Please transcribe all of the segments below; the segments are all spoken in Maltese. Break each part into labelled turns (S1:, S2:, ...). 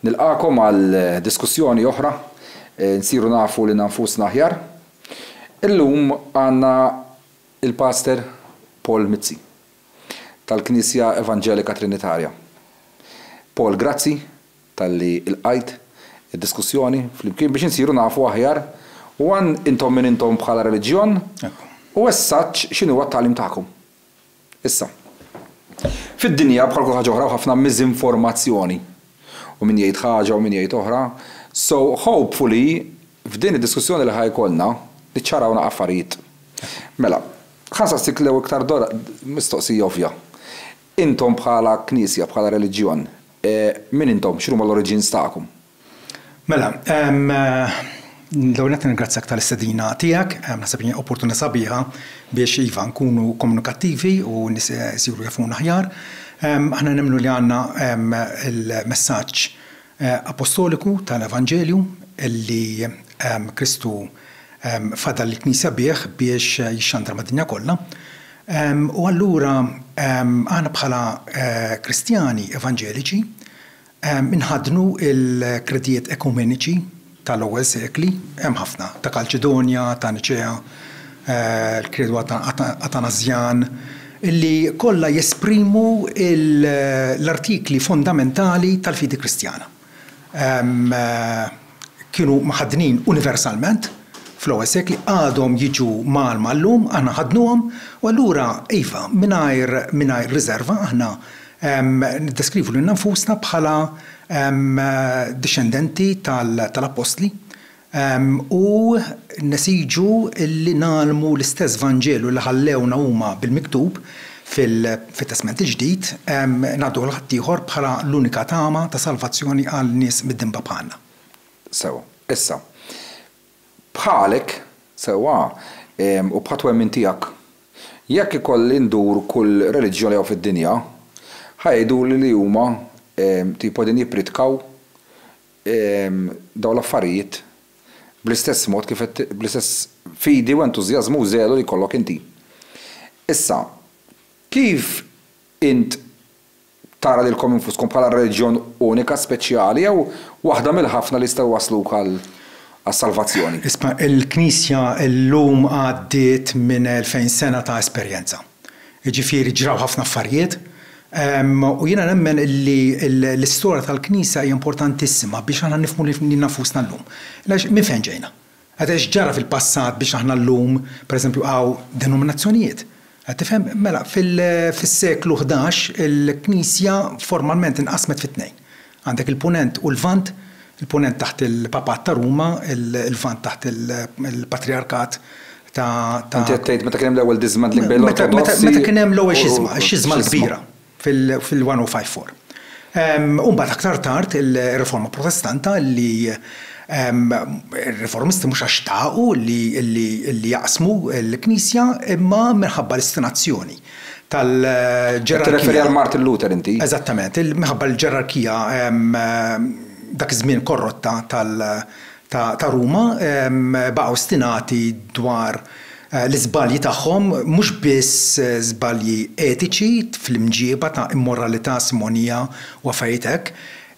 S1: Nilqagħkom għal diskussjoni oħra, Insiru nafu lilna nfusna aħjar. Illum għandna l-Paster Paul Mizzi tal-Knisja Evanġelika Trinitarja. Paul grazzi talli lqajt id-diskussjoni flimkien biex insiru nafu aħjar u għan intom min intom bħala reliġjon u eżsatt x'inhuwa t-tagħlim tagħkom. Issa, fid-dinja bħal kull ħaġa oħra hemm ħafna miżinformazzjoni. U min jgħid ħaġa u min jgħid oħra. So, hopefully, f'din id-diskussjoni li ħa jkollna, niċċarawna affarijiet. Mela, ħa nsaqsik l-ewwel iktar mistoqsija ovvja. Intom bħala Knisja, bħala reliġjon, min intom? X'inhuma l-oriġins tagħkom? Mela, l-ewwel nett nirringrazzjak tal-istedina tiegħek. Naħseb li hija opportunità sabiħa biex, iva, nkunu komunikattivi u n-nies isiru jafuna aħjar. Aħna nemmnu li għandna l-messaġġ appostoliku tal-evanġelju li Kristu fadal lill-Knisja bih biex jixxandar mad-dinja kollha. U allura aħna bħala Kristjani evanġeliċi, Inħaddnu l-kredijiet ekumeniċi tal-ewwel sekli, hemm ħafna, ta' Kalċidonja, ta' Niċea, l-Kredu Atanasjan, li kollha jesprimu l-artikli fondamentali tal-fidi Kristjana. kienu mħaddnin universalment fl-ewwel sekli għadhom jiġu mgħallma llum, aħna nħaddnuhom, u allura iva, mingħajr mingħajr riżerva aħna niddeskrivu lilna nfusna bħala dixxendenti tal-appostli u nesiġu li ngħallmu l-istess Vanġelu li ħallewna huma bil-miktub Fit-Testment il-Ġdid, ngħaddu għal ħaddieħor bħala l-unika tama ta' salvazzjoni għal nies midinba bħalna. Sew. Issa, bħalek, sewwa, u bħat-twemmin tiegħek, jekk ikolli ndur kull reliġjon li hawn fid-dinja, ħa jgħiduli li huma tipo qegħdin jippridkaw dawn l-affarijiet bl-istess mod kif qed bl-istess fidi u entużjażmu u żelu li jkollok inti. Issa, kif int tara lilkom infuskom bħala reġjon unika, speċjali jew waħda mill-ħafna li jistgħu jwassluk għas-salvazzjoni? Isma', il-Knisja llum għaddiet minn elfejn sena ta' esperjenza. jiġifieri ġraw ħafna affarijiet. U jiena nemmen li l-istorja tal-Knisja hija importantissima biex aħna nifhmu lil nafusna llum. Għaliex minn fejn ġejna? Għad x'ġara fil-passat biex aħna llum, pereżempju, hawn denominazzjonijiet? Qed tifhem? Mela, fil-seklu ħdax il-Knisja formalment inqasmet fi tnejn. Għandek il-Punent u l-Lvant, il-Punent taħt il-Papat ta' Ruma, il-Lvant taħt il-Patrijarkat ta'. Inti qed tgħid meta kien hemm l-ewwel dismantling bejn l-Ortodossi u. Meta kien hemm l-ewwel xisma, ix-Xisma l-Kbira fil-1054. U mbagħad aktar tard ir-Riforma Protestanta li r-Riformisti mhux għax xtaqu li jaqsmu l-Knisja imma minħabba l-istinazzjoni. tal-ġerarkija. Qed tirreferi għal Martin Luther inti? Eżattament, minħabba l-ġerarkija dak iż-żmien korrotta ta' Ruma baqa' ostinati dwar l-iżbalji tagħhom, mhux biss żbalji etiċi fl-imġieba ta' immoralità simonija u affarijiet hekk,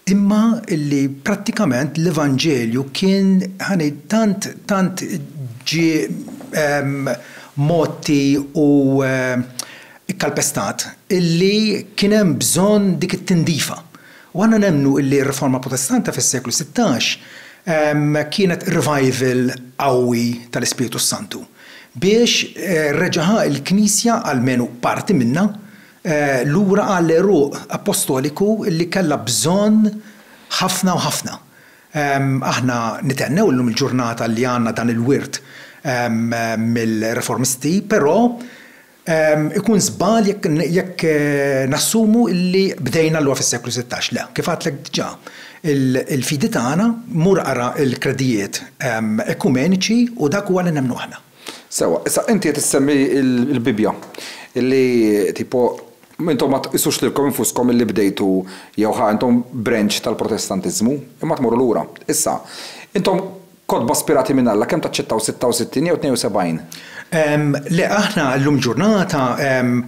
S1: imma li prattikament l-Evanġelju kien, ħa ngħid, tant, tant ġie mgħotti u kkalpestat illi kien hemm bżonn dik it-tindifa. U aħna nemmnu illi r-Riforma Protestanta fis-seklu sittax kienet revival qawwi tal-Ispirtu s-Santu biex reġaha l-Knisja, almenu parti minnha, lura għall-għeruq appostoliku li kellha bżonn ħafna u ħafna. Aħna nithennew illum il-ġurnata li għandna dan il-wirt mill-Riformisti, però ikun żball jekk nassumu li bdejna allura fis-seklu sittax. Le, kif għedtlek diġà, il-fidi tagħna, mur ara l-kredijiet ekumeniċi u dak huwa li nemmnu aħna. Sewwa, issa inti qed issemmi l-Bibbja li tipo intom ma tqisux lilkom infuskom li bdejtu jew ħa intom branch tal-Protestantiżmu, imma tmorru lura. Issa, intom kotba spirati minn Alla kemm taċċettaw 66 jew 72? Le, aħna llum il-ġurnata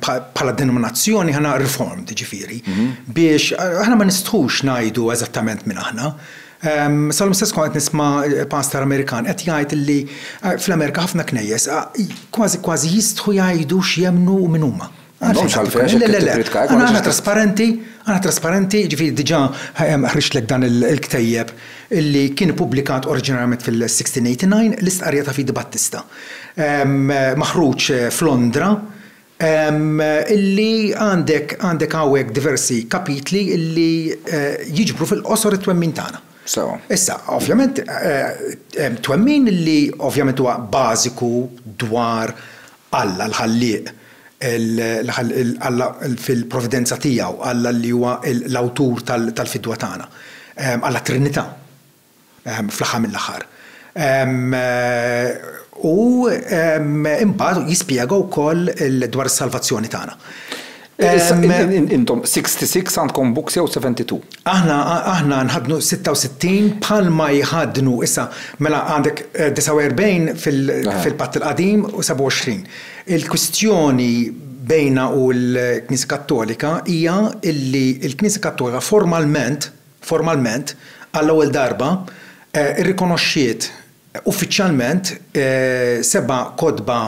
S1: bħala denominazzjoni aħna Reformed, jiġifieri biex aħna ma nistħux ngħidu eżattament min aħna. Sal-lum stess kont qed nisma' pastor Amerikan qed jgħid li fl-Amerika ħafna knejjes kważi kważi jistħu jgħidu x'jemmnu u min huma. M'għandhomx għalfejn għax jekk tippridka hekk. Aħna trasparenti, aħna trasparenti, ġifieri diġà ħriġtlek dan il-ktejjeb li kien ippubblikat oriġinarjament fil-1689, l-istqarrija ta' Fidi Battista. Maħruġ f'Londra. illi għandek għandek hawnhekk diversi kapitli li jiġbru fil-qosor it-twemmin tagħna. Sewwa. Issa, ovvjament, hemm twemmin li ovvjament huwa bażiku dwar Alla l-Ħallieq, Alla fil-providenza tiegħu, Alla li huwa l-awtur tal-fidwa tagħna, Alla t-Trinità. fl-aħħar mill-aħħar. U imbagħad jispjega wkoll dwar is-salvazzjoni tagħna. Intom 66 għandkom books jew 72? Aħna aħna nħaddnu 66 bħalma jħaddnu issa mela għandek 49 fil-Patt il-Qadim u 27. Il-kwistjoni bejna u l-Knisja Kattolika hija illi l-Knisja Kattolika formalment, formalment, għall-ewwel darba, irrikonoxxiet uffiċjalment seba' kotba,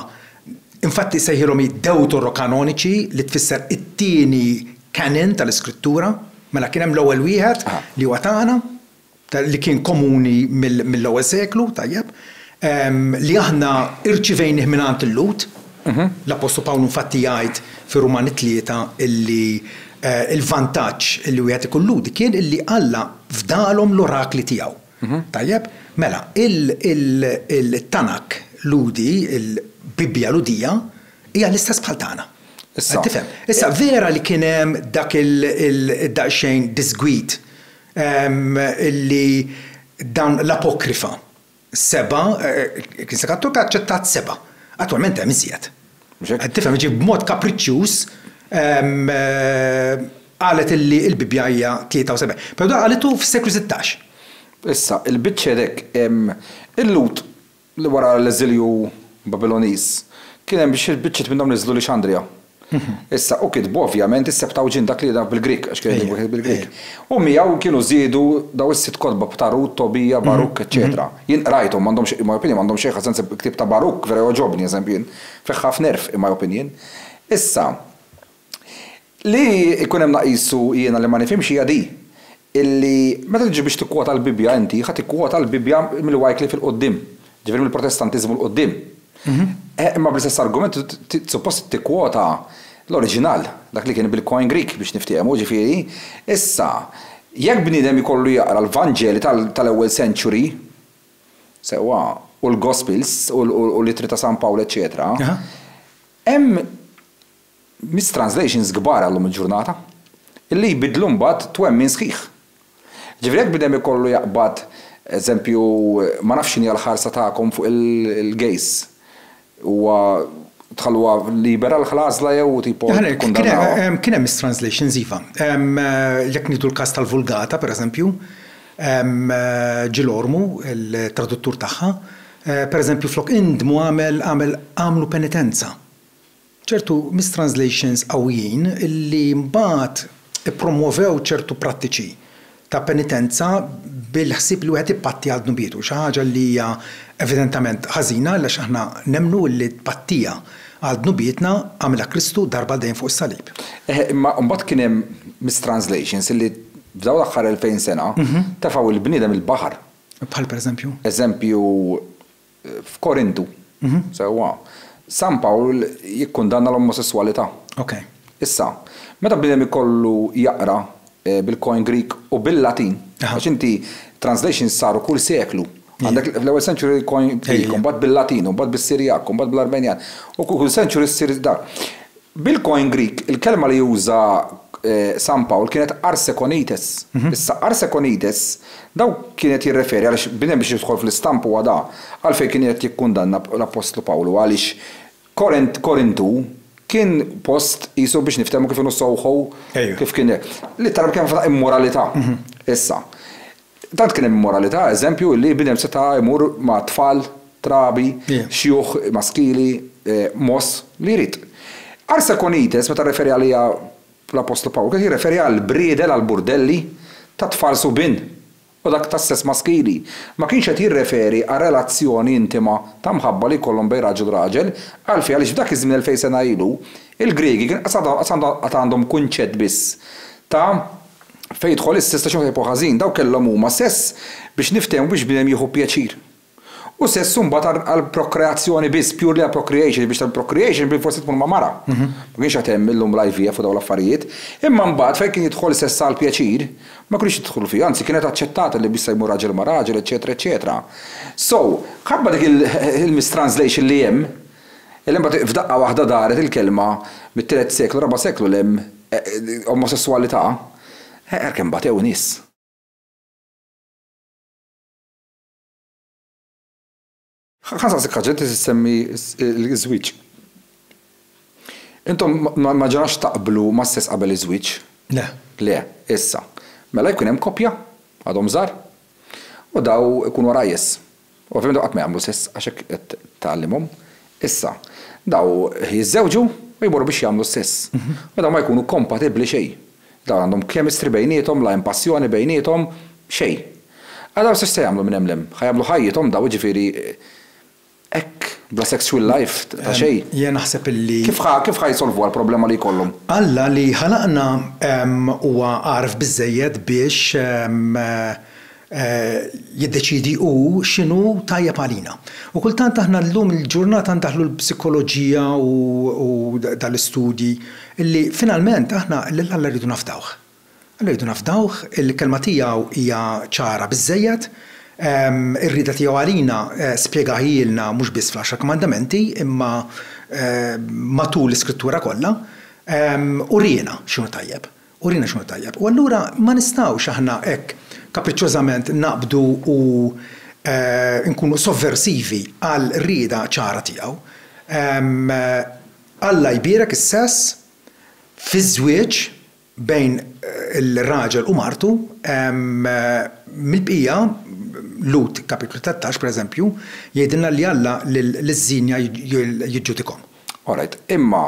S1: infatti sejħilhom hi Dewtorokanoniċi, li tfisser it-tieni canon tal-Iskrittura. Mela kien hemm l-ewwel wieħed, li huwa tagħna, li kien komuni mill-ewwel seklu, tajjeb. li aħna rċivejnih mingħand il-Lhud. L-appostlu Pawlu infatti jgħid fir-Rumani tlieta illi l-vantaġġ illi wieħed ikun Lhudi kien illi Alla fdalhom l-orakli tiegħu. Tajjeb? Mela, il-Tanak Lhudi, il-Bibbja Lhudija, hija l-istess bħal tagħna. Qed tifhem? Issa, vera li kien hemm dak id-daqsxejn diżgwid illi dawn l-apokrifa Seba', il-Knisja Kattolika aċċettat seba'. Attwalment hemm iżjed. Mhux hekk? Qed tifhem, jiġifieri b'mod kapriċċjuż qalet illi l-Bibbja hija 73. Però dan qalitu fis-seklu sittax. Issa, il-biċċer hekk, il-Lhud li wara l-eżilju Babiloniż, kien hemm xi biċċiet minnhom niżlu Lixandrija. Issa, u kitbu, ovvjament, is-Septawġint, dak li jingħaf bil-Grieg, għax kien kitbu wieħed bil-Grieg. U miegħu kienu żiedu dawn is-sitt kotba ta' Rut, Tobija, Barukk, eċċetera. Jien qrajthom, m'għandhomx, in my opinion, m'għandhomx xejn ħażin, il-ktieb ta' Barukk vera jogħġobni, eżempju, jien, fih ħafna għerf, in my opinion. Issa, li jkun hemm naqisu jiena li ma nifhimx hija di. illi meta tiġi biex tikkwota l-Bibbja inti ħa tikkwota l-Bibbja mill-Wycliffe 'il quddiem, ġifieri mill-Protestantiżmu 'l quddiem. Eh, imma bl-istess argument suppost tikkwota l-oriġinal, dak li kien bil-Koine Greek biex niftiehmu, ġifieri, issa, jekk bniedem ikollu jaqra l-Vanġeli tal-ewwel century, sewwa, u l-Gospels u l-Ittri ta' San Pawl eċċetera, hemm mis-translations kbar għal lum il-ġurnata, illi jbiddlu mbagħad twemmin sħiħ. Ġifieri jekk bniedem ikollu jaqbad, eżempju, ma nafx x'inhi l-ħarsa tagħkom fuq il-gays, huwa tħalluha libera l-għażla jew tipo tikkundannawha? Kien hemm mis-translations iva. Jekk nieħdu l-każ tal-Vulgata, pereżempju, Gil Ormu, il-traduttur tagħha, pereżempju flok indmu għamel għamlu penitenza. ċertu mistranslations qawwijin li mbagħad ippromwovew ċertu prattiċi ta' penitenza bil-ħsieb li wieħed ippatti għal dnubietu, xi ħaġa li hija evidentament ħażina għaliex aħna nemmnu li t-tpattija għal dnubietna għamilha Kristu darba għal dejjem fuq is-salib. Eħe, imma mbagħad kien hemm mistranslations li f'dawn l-aħħar elfejn sena tefgħu lill-bniedem il-baħar. Bħal pereżempju? Eżempju, F'Korintu. Sewwa. San Pawl jikkundanna l-omosesswalità. Ok. Issa, meta bniedem ikollu jaqra bil-Koine Greek u bil-Latin, għax inti translations saru kull seklu. Għandek fl-ewwel century il-Koine Greek, u mbagħad bil-Latin, u mbagħad bis-Sirjak, u mbagħad bl-Armenjan, u kull century ssir dak. Bil-Koine Grieg, il-kelma li uża San Pawl kienet arsekonites. Issa, arsekonites, daw kien qed jirreferi, għaliex bnedem biex jidħol fl-istampa huwa da, għalfejn kien qed jikkundanna l-Appostlu Pawlu, għaliex Korint, Korintu, kien post qisu biex niftehmu kif inhu soho, kif kien l-ittara b'kelma f'għodu immoralità. Issa. Tant kien hemm immoralità, eżempju, li bniedem seta' jmur ma' tfal, trabi, xjuħ maskili, mogħoż, li jrid. Arsa Konites, meta rreferi għaliha l-appostlu Pawl, kien qed jirreferi għall-briedel, għall-burdelli, tat-tfal subien u dak tas-sess maskili. Ma kienx qed jirreferi għal relazzjoni intima ta' mħabba li jkollhom bejn raġel u raġel. Għalfejn? Għaliex f'dak iż-żmien elfejn sena ilu, il-Griegi kien qatt għandhom kunċett biss ta' Fejn jidħol is-sess ta' xi wieħed jibqgħu ħażin, dawk kellhom huma sess biex niftehmu biex bniedem jieħu pjaċir. U sess imbagħad għall-prokreazzjoni biss, purely għal procreation, biex tagħmel procreation bilfors trid tmur ma' mara. Ma kienx għad hemm illum l-IVF u dawn l-affarijiet. Imma mbagħad fejn kien jidħol sess għall-pjaċir, ma kinux jidħlu fih, anzi kienet aċċettata li bissa jmur raġel ma' raġel, eċċetera eċċetera. So, mħabba dik il-mistranslation li hemm, Illa imbagħad f'daqqa waħda daret il-kelma mit-tielet seklu, raba' seklu 'l hemm, omosesswalità, ara kemm batew nies! Ħa nsaqsik ħaġa, inti tissemmi ż-żwieġ. Intom ma ġrax taqblu mas-sess qabel iż-żwieġ? Le. Le. Issa, mela jkun hemm koppja, għadhom żgħar, u daw ikunu għarajjes. Ovvjament dawn qatt ma jagħmlu sess għax hekk qed tgħallimhom. Issa, dawn jiżżewġu u jmorru biex jagħmlu s-sess. U dawn ma jkunu kompatibbli xejn. Dawn għandhom chemistry bejniethom, la hemm passjoni bejniethom, xejn. Ara dawn x'se jagħmlu minn hemm 'l hemm. Ħa jagħmlu ħajjithom dawn jiġifieri hekk bla sexual life ta' xejn. Jiena naħseb illi. Kif ħa kif ħa jsolvuha l-problema li jkollhom? Alla li ħalaqna huwa għaref biżżejjed biex jiddeċiedi hu x'inhu tajjeb għalina. U kultant aħna llum il-ġurnata ndaħħlu l-psikoloġija u dan l-istudji li finalment aħna lil Alla rridu nafdawh. Alla rridu nafdawh, il-Kelma tiegħu hija ċara biżżejjed, ir-rieda tiegħu għalina spjegaha jilna mhux biss fl-Għaxar Kmandamenti imma matul l-Iskrittura kollha, uriena x'inhu tajjeb. Urina x'inhu tajjeb. U allura ma nistgħux aħna hekk kapriċċjożament naqbdu u nkunu sovversivi għal rieda ċara tiegħu. Alla jbierek is-sess fiż-żwieġ bejn ir-raġel u martu, mill-bqija, Lhud kapitlu tlettax, pereżempju, jgħidilna li Alla liż-żienja jiġġudikhom. Orajt. Imma,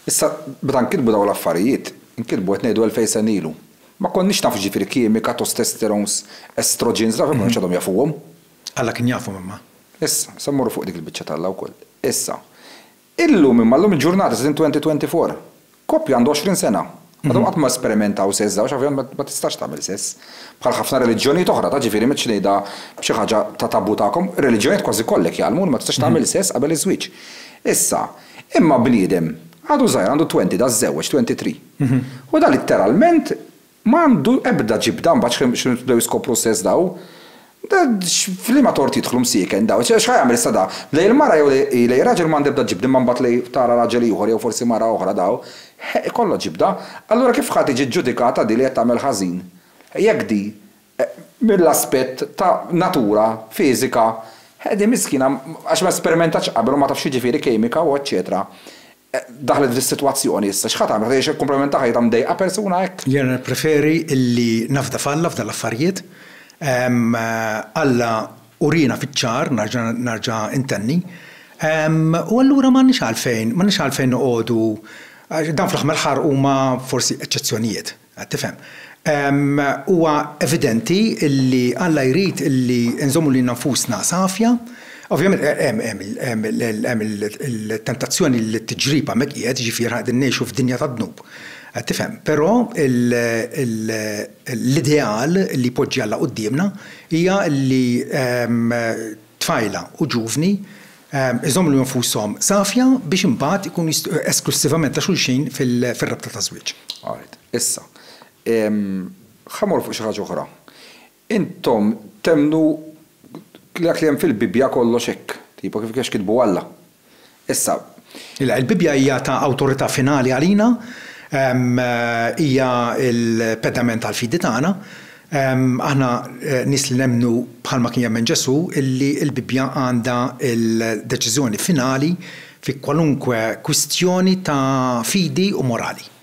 S1: issa, meta nkitbu dawn l-affarijiet, nkitbu, qed ngħidu elfejn sena ilu, ma konniex nafu x'ġifieri kimika, tostesterons, estrogens, dawn ma kinux għadhom jafuhom. Alla kien jafhom imma. Issa, se mmorru fuq dik il-biċċa t'Alla wkoll. Issa, illum imma, llum il-ġurnata, qegħdin 2024. Koppja għandha għoxrin sena, għadhom qatt ma sperimentaw sess żewġ, ovvjament ma tistax tagħmel sess. Bħal ħafna reliġjonijiet oħra, ta' ġifieri m'għedx ngħidha b'xi ħaġa ta' tabu tagħkom, reliġjonijiet kważi kollek jgħallmu li ma tistax tagħmel sess qabel iż-żwieġ. Issa, imma bniedem għadu żgħir għandu twenty da żżewweġ, twenty three. U da litteralment Ma għandu ebda ġibda mbagħad x'ħin x'ħin bdew jiskopru s-sess daw? Da x' f'liema tort jidħlu msieken daw? X' ħa jagħmel issa da? Lejn il-mara jew lejn lejn ir-raġel m'għandi ebda ġibda imma mbagħad lejn tara raġel ieħor jew forsi mara oħra daw? Ħe ikollha ġibda. Allura kif ħa tiġi ġġudikata di li qed tagħmel ħażin? Jekk di mill-aspett ta' natura fiżika, ħe di miskina għax ma espermentatx qabel u ma tafx x'jiġifieri kemika u eċċetera. Daħlet f'di s-sitwazzjoni issa. X'ħa tagħmel? Ħa tgħix hekk kumplament ta' ħajjitha mdejqa persuna hekk? Jiena nippreferi li nafda f'Alla f'dawn l-affarijiet. Alla uriena fiċ-ċar, nerġa' nerġa' intenni. U allura m'għandniex għalfejn, m'għandniex għalfejn noqogħdu, dawn fl-aħħar mill-aħħar huma forsi eċċezzjonijiet. Qed tifhem. Huwa evidenti li Alla jrid li nżommu lilna nfusna safja. Ovvjament hemm il-tentazzjoni li t-tiġrib hemmhekk qiegħed, jiġifieri aħna qegħdin ngħixu f'dinja tad-dnub. Qed tifhem. Però l-ideal li jpoġġi Alla quddiemna hija li tfajla u ġuvni jżommu lil nfushom safja biex imbagħad ikunu jistgħu esklussivament ta' xulxin fir-rabta ta' żwieġ. Alright. Issa, ħa mmorru fuq xi ħaġa oħra. Intom temmnu li dak li hemm fil-Bibbja kollox hekk, tipo kif kienx kitbu Alla? Issa, il-Bibbja hija ta' awtorità finali għalina, hija l-pedament tal-fidi tagħna. Aħna nies li nemmnu, bħalma kien jemmen Ġesù, li l-Bibbja għandha l-deċiżjoni finali fi kwalunkwe kwistjoni ta' fidi u morali.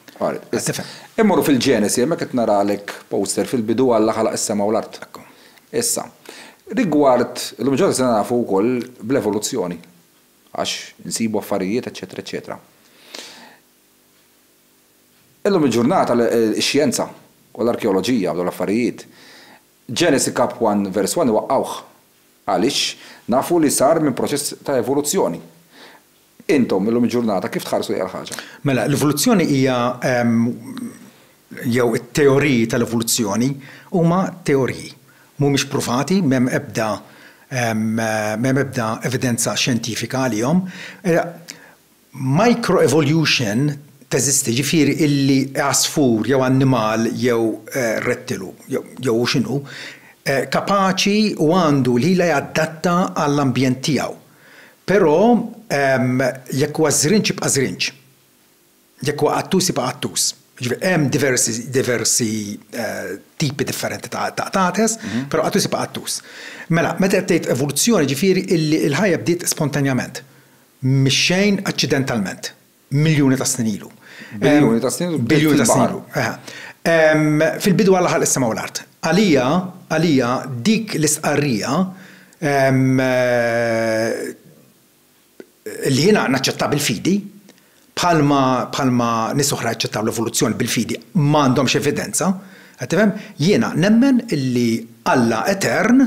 S1: Issa, immorru fil-Ġenesi, hemmhekk qed naralek poster fil-bidu Alla ħalaq is-sema u l-art. Issa, rigward, illum il-ġurnata sirna nafu wkoll bl-evoluzzjoni għax insibu affarijiet eċċetera eċċetera. Illum il-ġurnata ix-xjenza u l-arkeoloġija u dawn l-affarijiet, Ġenesi Kap. 1 Vers 1 iwaqqgħuh. Għaliex? Nafu li sar minn proċess ta' evoluzzjoni. Intom, illum il-ġurnata, kif tħarsu lejha l-ħaġa? Mela, l-evoluzzjoni hija, jew it-teoriji tal-evoluzzjoni huma teoriji. Mhumiex pruvati, m'hemm ebda, m'hemm ebda evidenza xjentifika għalihom. Microevolution teżisti, jiġifieri illi għasfur jew annimal jew rettilu, jew hu x'inhu, kapaċi u għandu l-ħila jadatta għall-ambjent tiegħu. Però jekk huwa żrinġ jibqa' żrinġ. Jekk huwa qattus jibqa' qattus. Jiġifieri hemm diversi diversi tipi differenti ta' qtates, però qattus jibqa' qattus. Mela, meta qed tgħid evoluzzjoni jiġifieri illi l-ħajja bdiet spontanjament, mix-xejn aċċidentalment. Miljuni ta' snin ilu. Biljuni ta' snin ilu. Biljuni ta' snin ilu. Fil-bidu Alla ħalaq is-sema u l-art. Għalija, għalija dik l-istqarrija li jiena naċċettha bil-fidi, bħalma bħalma nies oħra jaċċettaw l-evoluzzjoni bil-fidi, ma għandhomx evidenza, qed tifhem? Jiena nemmen illi Alla etern,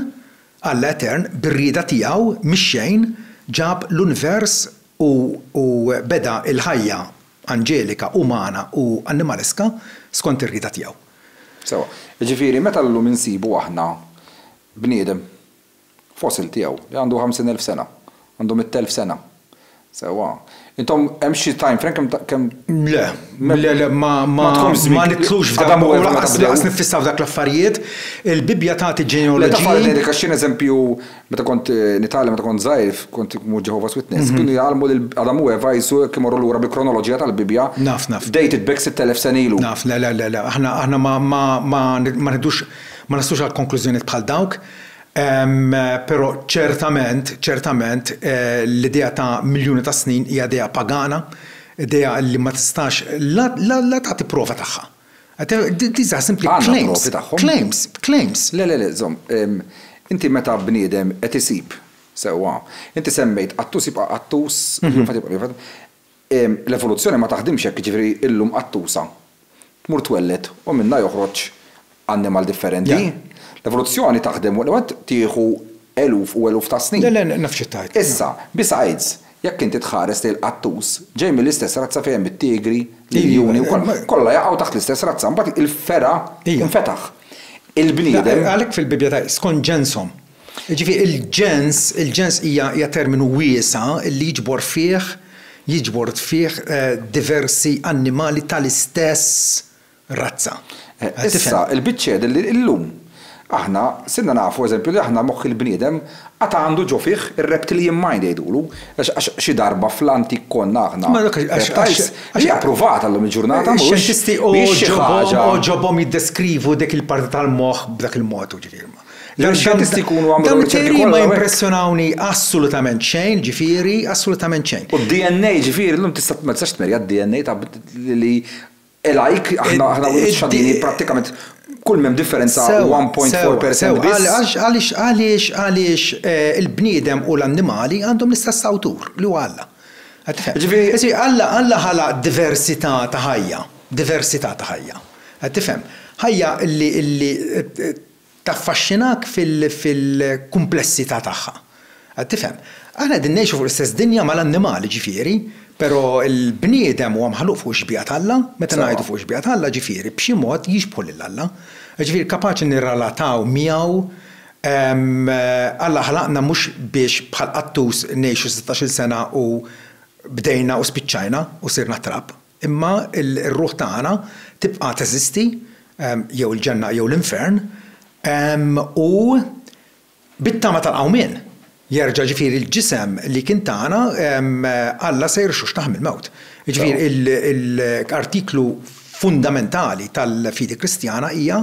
S1: Alla etern, bir-rieda tiegħu, mix-xejn, ġab l-univers u beda l-ħajja anġelika, umana u annimaleska skont ir-rieda tiegħu. Sewwa. Jiġifieri meta llum insibu aħna bniedem, fossil tiegħu, li għandu ħamsin elf sena, għandu mitt elf sena, sewwa, intom hemm xi time frame kemm ta' kemm. Le, le, le, ma, ma, ma nidħlux f'dan u lanqas nifissaw f'dak l-affarijiet. Il-Bibbja tagħti ġenealoġiji. Le, ta' f'għalidejk għax xi eżempju Meta kont nitgħallem, meta kont żgħir, kont immur Jehovah's Witness, kienu jgħallmu lil Adam u Eva jsu jekk imorru lura bil-kronoloġija tal-Bibbja. Naf, naf. Dated back 6,000 sena ilu. Naf, le, le, le, le. Aħna, aħna ma, ma, ma, ma nidux, ma naslux għal konklużjonijiet bħal dawk. Però ċertament, ċertament, l-idea ta' miljuni ta' snin hija idea pagana, idea li ma tistax la, la, la tagħti prova tagħha. These are simply claims. Għandna provi tagħhom. Claims, claims. Le, le, le, żomm. Inti meta bniedem qed isib, sewwa, inti semmejt qattus jibqa' qattus, jufat jibqa' jufat. L-evoluzzjoni ma taħdimx hekk, jiġifieri illum qattusa tmur twelled u minnha joħroġ annimal differenti. L-evoluzzjoni taħdem waqt li tieħu eluf u eluf ta' snin. Le, le, naf xi tgħid. Issa, besides, Jekk inti tħares lejn qattus, ġej mill-istess razza fejn hemm it-tigri, l-iljuni u kollha. Kollha jaqgħu taħt l-istess razza. Imbagħad il-fergħa tinfetaħ. Il-bniedem. Għalhekk fil-Bibbja tgħid, skont ġenshom. Jiġifieri il-ġens, il-ġens hija hija terminu wiesa' li jiġbor fih jiġbor fih diversi annimali tal-istess razza. Issa, il-biċċiegħed li llum aħna sirna nafu, eżempju, li aħna moħħ il-bniedem għad għandu ġo fih ir-reptilian mind jgħidulu, għax xi darba fl-antik konna aħna reptiles, hija pprovata llum il-ġurnata mhux. Ix-xjentisti għoġobhom jiddeskrivu dik il-parti tal-moħħ b'dak il-mod, jiġifieri. Dawn ix-xjentisti jkunu għamlu dak il-mod. Dawn ma jimpressjonawni assolutament xejn, jiġifieri, assolutament xejn. U d-DNA, jiġifieri, llum tista' ma tistax tmerja d-DNA li E like, aħna aħna u ċ-ċadini prattikament kull m'hemm differenza 1.4 percent biss. Għaliex għaliex għaliex għaliex il-bniedem u l-annimali għandhom l-istess awtur li huwa Alla? Qed tifhem? Jiġifieri Jiġifieri Alla Alla ħalaq diversità ta' ħajja, diversità ta' ħajja. Qed tifhem? Ħajja li li Taffaxxinak fil-kumplessità tagħha. Qed tifhem? Aħna qegħdin ngħixu fuq l-istess dinja mal-annimali, ġifieri, però l-bniedem huwa maħluq fuq ix-xbieha t'Alla, meta ngħidu fuq ix-xbieha t'Alla, ġifieri b'xi mod jixbħu lil Alla. Ġifieri kapaċi nirrelataw miegħu, Alla ħlaqna mhux biex bħal qattus ngħixu sittax-il sena u bdejna u spiċċajna u sirna trab. Imma r-ruħ tagħna tibqa' teżisti, jew il-ġenna jew l-infern, u bit-tama tal-qawmien, jerġa' ġifieri l-ġisem li kien tagħna, Alla se jirxuxtah mill-mewt. Jiġifieri l-artiklu fundamentali tal-fidi Kristjana hija,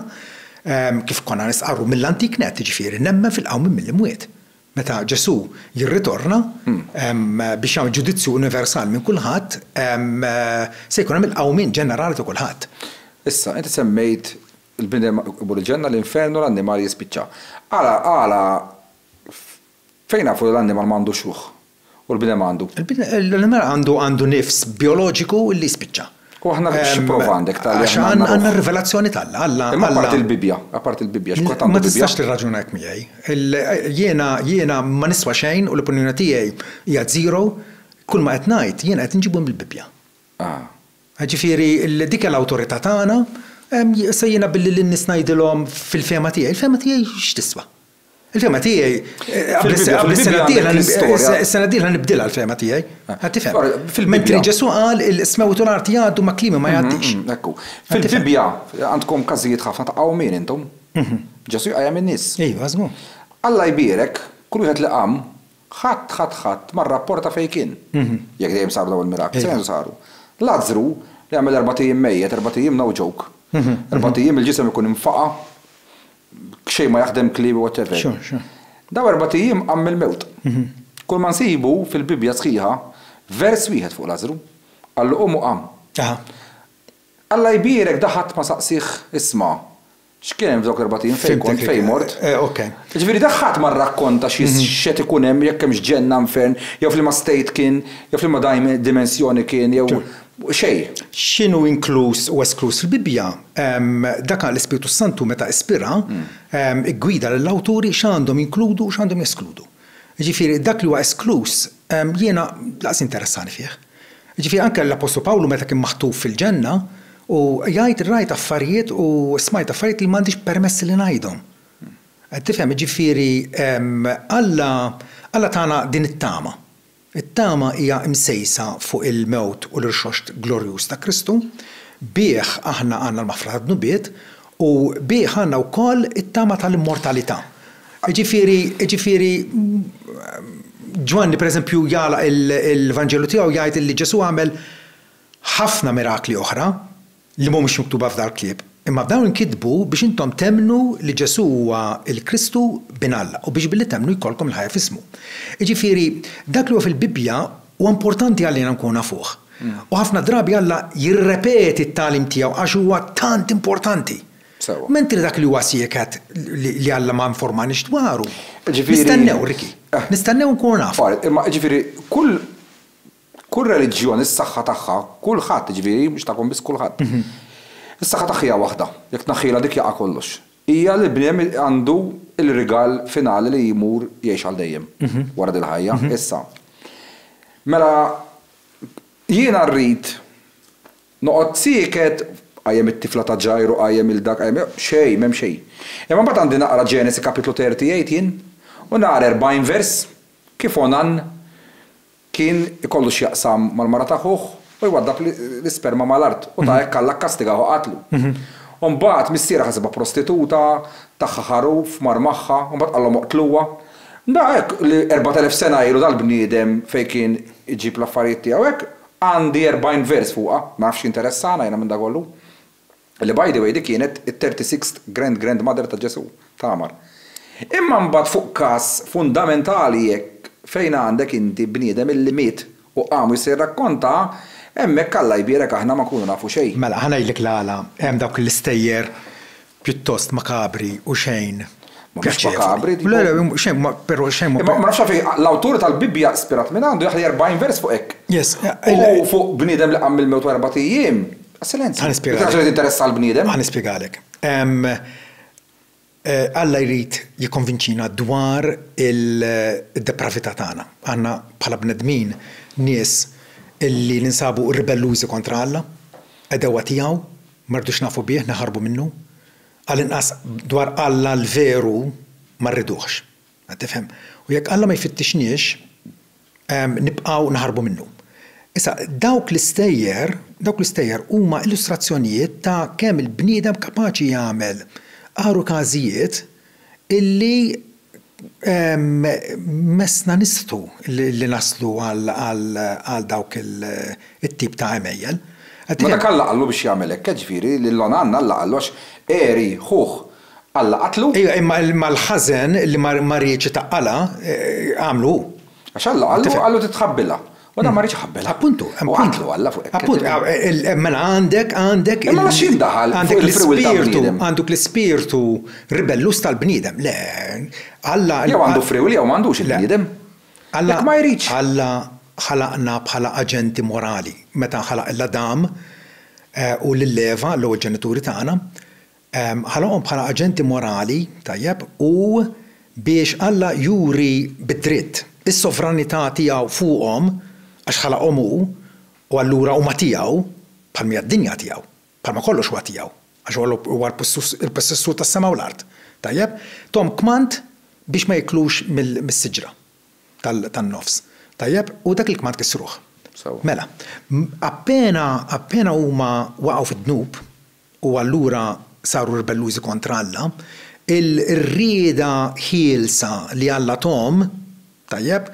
S1: kif konna nistqarru mill-antik nett, jiġifieri nemmen fil-qawmien mill-imwiet. Meta Ġesù jirritorna biex jagħmel ġudizzju universali minn kulħadd, se jkun hemm il-qawmien ġenerali ta' kulħadd. Issa, inti semmejt il-bniedem iqbud il-ġenna, l-infernu, l-annimal jispiċċa. Għala, għala fejn nafu li l-annimal ma għandux ruħ? u l-bniedem għandu. L-annimal għandu għandu nifs bijoloġiku li jispiċċa. U aħna xi prova għandek ta' li aħna għandna. Għandna r-rivelazzjoni ta' Alla, Alla. Imma apart il-Bibbja, apart il-Bibbja, x'kont għandu l-Bibbja? Ma tistax tirraġuna hekk miegħi. Jiena jiena ma niswa xejn u l-opinjoni tiegħi hija zero, kulma qed ngħid jiena qed inġibu mill-Bibbja. Ah. Jiġifieri dik hija l-awtorità tagħna, issa jiena billi lin-nies ngħidilhom fil-fehma tiegħi, il-fehma tiegħi x'tiswa? Il-fema tiegħi. Fil-Bibbja għandek l-istorja. Is-sena d-dieħla nibdilha l-fema tiegħi. Qed tifhem? Fil-Bibbja. Mentri Ġesù qal is-smewt u l-art jgħaddu ma' kliemi ma jgħaddix. Ekku. Fil-Bibbja għandkom każijiet ħafna ta' qawmien intom. Ġesù jqajjem in-nies. Iva, żgur. Alla jbierek kull wieħed li qam, ħadd, ħadd, ħadd ma rrapporta fejn kien. Jekk dejjem saru dawn il-mirakli, sa fejn saru? Lazzru li għamel erbat ijiem mejjet, erbat ijiem no joke. Erbat ijiem il-ġisem ikun infaqa'. Xejn ma jaħdem kliem whatever. Dawn erbat ijiem qam mill-mewt. Kulma nsibu fil-Bibbja sħiħa vers wieħed fuq Lażru. Qallu qum u qam. Alla jbierek da ħadd ma saqsieh isma' x'kien hemm f'dawk l-erbat ijiem fejn kont fejn mort. Jiġifieri da ħadd ma rrakkonta x'qed ikun hemm jekk hemmx ġenna infern jew f'liema state kien jew f'liema dimensjoni kien jew xejn. X'inhu inkluż u eskluż fil-Bibbja? Dak għal l-Ispirtu s-Santu meta ispira, iggwida lill-awturi x'għandhom jinkludu u x'għandhom jeskludu. Jiġifieri dak li huwa eskluż jiena lanqas jinteressani fih. Jiġifieri anke l-Appostlu Pawlu meta kien maħtuf fil-ġenna u jgħid rajt affarijiet u smajt affarijiet li m'għandix permess li ngħidhom. Qed tifhem? Jiġifieri Alla Alla tana din it-tama. It-tama hija msejsa fuq il-mewt u l-irxoxt glorjuż ta' Kristu. Bih aħna għandna l-maħfra tad-dnubiet u bih għandna wkoll it-tama tal-immortalità. Jiġifieri, jiġifieri, Ġwanni pereżempju jagħlaq il-Vanġelu tiegħu jgħid li Ġesù għamel ħafna mirakli oħra. li mhumiex miktuba f'dal-ktieb, imma dawn inkitbu biex intom temmnu li Ġesù huwa l-Kristu, Bin Alla, u biex billi temmnu jkollkom il-ħajja f'ismu. Jiġifieri, dak li huwa fil-Bibbja huwa importanti għalina nkunu nafuh. U ħafna drabi Alla jirrepeti t-tagħlim tiegħu għax huwa tant importanti. Mentri dak li huwa sieket li Alla ma informaniex dwaru. Nistennew, Ricky. Nistennew nkunu nafu. Imma jiġifieri, kull Kull reliġjon, is-saħħa tagħha, kulħadd, jiġifieri mhux tagħkom biss kulħadd, is-saħħa tagħha hija waħda, jekk tneħħilha dik jaqa' kollox, hija li l-bniedem għandu l-rigal finali li jmur jgħix għal dejjem wara dil-ħajja. Issa, mela jiena rrid noqgħod sieket, qajjem it-tifla ta' Ġajru, qajjem lil dak, qajjem lil, xejn, m'hemm xejn. Imma mbagħad għandi naqra Ġenesi kapitlu 38 jien u naqra 40 vers kif Onan Kien ikollu x'jaqsam mal-mara ta' ħuh u jwaddab l-isperma mal-art u ta' hekk Alla kkastigah u qatlu. U mbagħad missierha ħasibha prostituta, tagħha ħaruf, mar magħha, u mbagħad qalhom oqtluha. Mela hekk li erbat elef sena ilu dal-bniedem fejn kien iġib l-affarijiet tiegħu hekk għandi erbgħin vers fuqha, ma nafx x'jinteressana jiena minn dakollu. li by the way di kienet it-thirty sixth grand grand mother ta' Ġesù, Tamar. Imma mbagħad fuq każ fundamentali hekk fejn għandek inti bniedem illi miet u qam u jista' jirrakkonta, hemmhekk Alla jbierek aħna ma nkunu nafu xejn. Mela, ħa ngħidlek l-għala hemm dawk l-istejjer pjuttost makabri u xejn pjaċevoli. Mhumiex makabri, dico. Xejn ma, però xejn ma. Imma ma nafx għalfejn l-awtur tal-Bibbja ispirat minn għandu jaħli erbgħin vers fuq hekk. Yes. U fuq bniedem li qam mill-mewt wara erbat ijiem. Għas-silenzju. Ħanispjegalek. Ħaġa li tinteressa l-bniedem. Ħanispjegalek. Alla jrid jikkonvinċina dwar id-depravità tagħna. Aħna bħala bnedmin nies li ninsabu ribellużi kontra Alla, għedewwa tiegħu, ma rridux nafu bih, naħarbu minnu. Għall-inqas dwar Alla l-veru ma rriduhx. Qed tifhem? U jekk Alla ma jfittixniex, nibqgħu naħarbu minnu. Issa, dawk l-istejjer, dawk l-istejjer huma illustrazzjonijiet ta' kemm il-bniedem kapaċi jagħmel għar u każijiet illi messna nistħu li naslu għal dawk it-tip ta' għemejjel. Qed tifhem? Ma dak Alla qallu biex jagħmel hekk, jiġifieri lil Onanna Alla qallu għax għeri ħuh Alla qatlu? Ejja, imma l-ħażen li ma riedx itaqqalha, għamlu hu. Għax Alla qallu, qallu titħabbilha. U dan ma riedx iħabbilha. Appuntu. U qatlu Alla fuq hekk. Appuntu. Mela għandek, għandek. Imma ma x'jien daħal fil-frewwil tal-bniedem? Għanduk l-ispirtu ribelluż tal-bniedem. Le, Alla. Jew għandu frewwil jew m'għandux il-bniedem. Alla. Jekk ma jridx. Alla ħalaqna bħala aġenti morali. Meta ħalaq lill-Adam u lill-Eva, l-ewwel ġenituri tagħna, Ħaloqhom bħala aġenti morali, tajjeb, u biex Alla juri bid-dritt is-sovranità tiegħu fuqhom, għax ħalaqhom hu, u allura huma tiegħu, bħal mija d-dinja tiegħu, bħalma kollox huwa tiegħu, għax huwa huwa l-possessur tas-sema u l-art. Tajjeb? Thom kmand biex ma jiklux mis-siġra tan-nofs. Tajjeb? U dak il-kmand kissruh. Sewwa. Mela, appena appena huma waqgħu fid-dnub, u allura saru ribellużi kontra Alla, il-rieda ħielsa li Alla thom, tajjeb,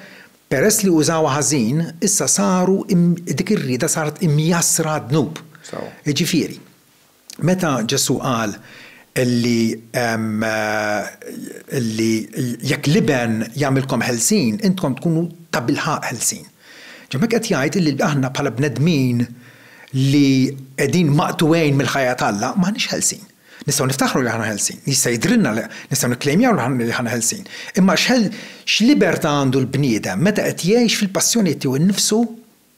S1: peress li użawha ħażin, issa saru, dik ir-rieda saret imjassra għad-dnub. Jiġifieri, meta Ġesù qal li li jekk l-Iben jagħmilkom ħelsin, intkom tkunu tabilħaqq ħelsin. Ġo hemmhekk qed jgħid li aħna bħala bnedmin, li qegħdin maqtugħin mill-ħajja t'Alla, m'aħniex ħelsin. Nistgħu niftaħru li aħna ħelsin, jista' jidhrilna li nistgħu nikklejmjaw li aħna ħelsin. Imma x'libertà għandu l-bniedem meta qed jgħix fil-passjonijiet tiegħu nnifsu,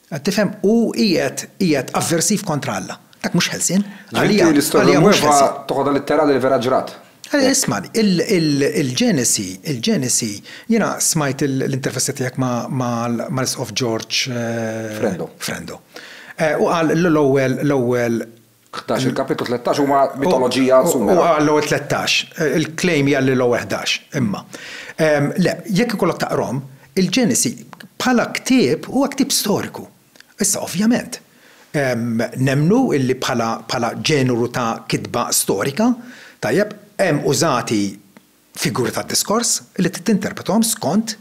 S1: qed tifhem, u qiegħed qiegħed avversiv kontra Alla? Dak mhux ħelsien. Għalija, Għalija mhux ħelsien. Ġifieri l-istorja Mweva toħodha litterali l-vera ġrat. Ismagħni, il-Ġenesi, il-Ġenesi, jiena smajt l-intervista tiegħek mal-Isqof George Frendo. Frendo. Eh, u qal l-ewwel, l-ewwel. Ħdax, il-kapitlu 13 huma mitoloġija sumera. Huwa l-ewwel 13. Eh, il-claim hija li l-ewwel 11, imma. Ehm, le, jekk ikollok taqrom, il-Ġenesi bħala ktieb huwa ktieb storiku. Issa, ovvjament, nemmnu li bħala bħala ġeneru ta' kitba storika, tajjeb, hemm użati figuri tad-diskors li trid tinterprethom skont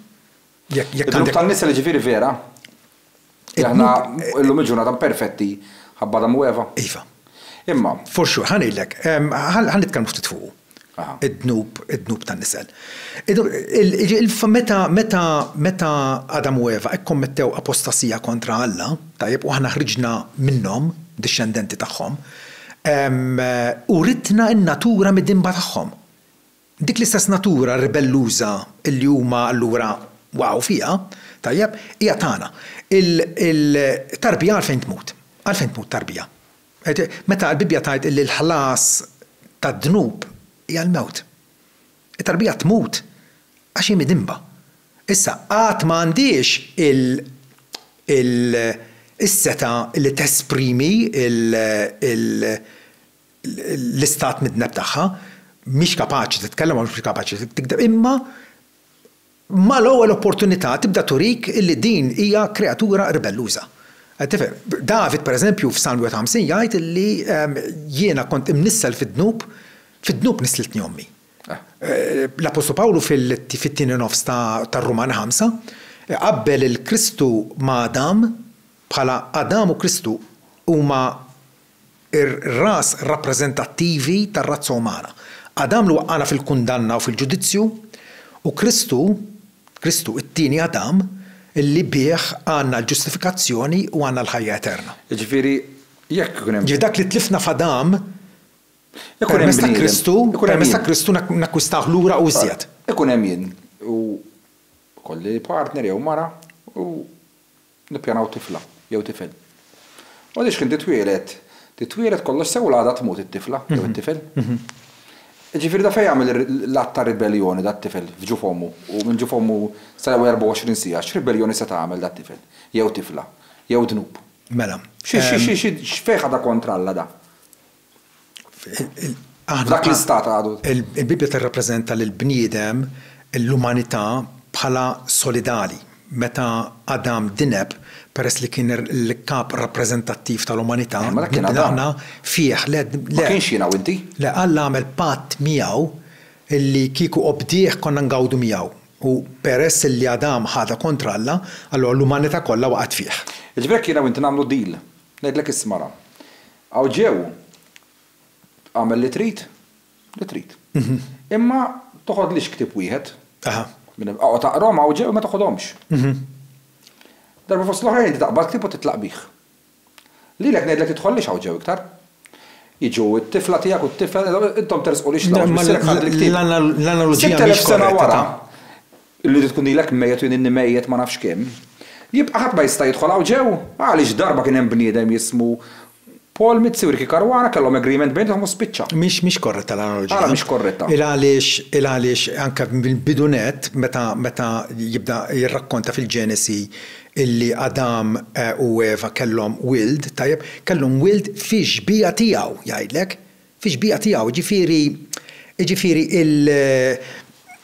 S1: jekk jekk għandek. Id-dnub tan-nisa jiġifieri vera li aħna llum il-ġurnata imperfetti ħabba Adam u Eva? Iva. Imma. For sure, ħa ngħidlek, ħa nitkellmu ftit fuqu. id-dnub, id-dnub tan-nisel. Meta, meta, meta Adam u Eva kkommettew apostasija kontra Alla, tajjeb, u aħna ħriġna minnhom, dixxendenti tagħhom, uritna n-natura midinba tagħhom. Dik l-istess natura ribelluża li huma allura waqgħu fiha, tajjeb, hija tagħna. Il, il, tarbija għalfejn tmut? Għalfejn tmut tarbija? Meta l-Bibbja tgħid li l-ħlas tad-dnub hija l-mewt. It-tarbija tmut għax hi midinba. Issa, għad ma għandhiex is-setgħa li tesprimi l-istat midneb tagħha, mhix kapaċi titkellem u mhix kapaċi tigdeb, imma mal-ewwel opportunità tibda turik illi din hija kreatura ribelluża. Tifhem? David, pereżempju, f'Salm 51 jgħid illi jiena kont imnissel fid-dnub, fid-dnub nisslitni ommi. L-appostlu Pawlu fit-tieni nofs tar-Rumani ħamsa qabbel il-Kristu ma' Adam bħala Adam u Kristu huma ir-ras rappreżentattivi tar-razza umana. Adam li waqqagħna fil-kundanna u fil-ġudizzju, u Kristu, Kristu, it-tieni Adam, li bih għandna l-ġustifikazzjoni u għandna l-ħajja eterna. Jiġifieri, jekk ikun hemm. Jiġifieri dak li tlifna f'Adam, permezz ta' Kristu, permezz ta' Kristu nakkwistawh lura u iżjed. Ikun hemm jien u jkolli partner jew mara u. Nippjanaw tifla jew tifel. U għaliex kien titwieled, titwieled kollox sew u l-għada tmut it-tifla jew it-tifel. Jiġifieri da fejn għamel l-att ta' ribelljoni dat-tifel f'ġuf ommu u minn ġuf ommu sal-ewwel 24 siegħa, x'ribelljoni seta' għamel dat-tifel jew tifla, jew dnub? Mela. X'fejn ħadha kontra Alla da? F'dak l-istat għadu. Il-Bibbja tirrappreżenta lill-bniedem, l-umanità, bħala solidali. Meta Adam dineb, peress li kien l-kap rappreżentattiv tal-umanità, nibna aħna fih. Le, le. Ma kienx jiena u inti. Le, Alla għamel patt miegħu li kieku obdieh konna ngawdu miegħu. U peress li Adam ħadha kontra Alla, allura l-umanità kollha waqgħet fih. Jiġifieri hekk jiena u inti nagħmlu deal. Ngħidlek isma' ra. Hawn ġew. Agħmel li trid, li trid. Imma toħodlix ktieb wieħed. Aha. Oqgħod aqrahom hawn ġew imma toħodhomx. Darba fost l-oħrajn inti taqbad ktieb u titlaq bih. Lilek ngħidlek tidħollix hawn ġew iktar. Jiġu t-tifla tiegħek u t-tifel, intom tersqulix l-hawn ġew. Missierek ħadli ktieb. L-analoġija mhix korretta. Sitt elef sena wara, Li tkun ilek mejjet u jien inni mejjet ma nafx kemm. Jibqa' ħadd ma jista' jidħol hawn ġew? Għaliex darba kien hemm bniedem jismu Paul Mizzi u Ricky Caruana kellhom agreement bejnithom u spiċċa. Mhix mhix korretta l-analoġija. Għala mhix korretta? Il għaliex il għaliex anke mill-bidu nett meta meta jibda jirrakkonta fil-Ġenesi illi Adam u Eva kellhom wild, tajjeb, kellhom wild fix-xbieha tiegħu, jgħidlek. fix-xbieha tiegħu, jiġifieri, jiġifieri il,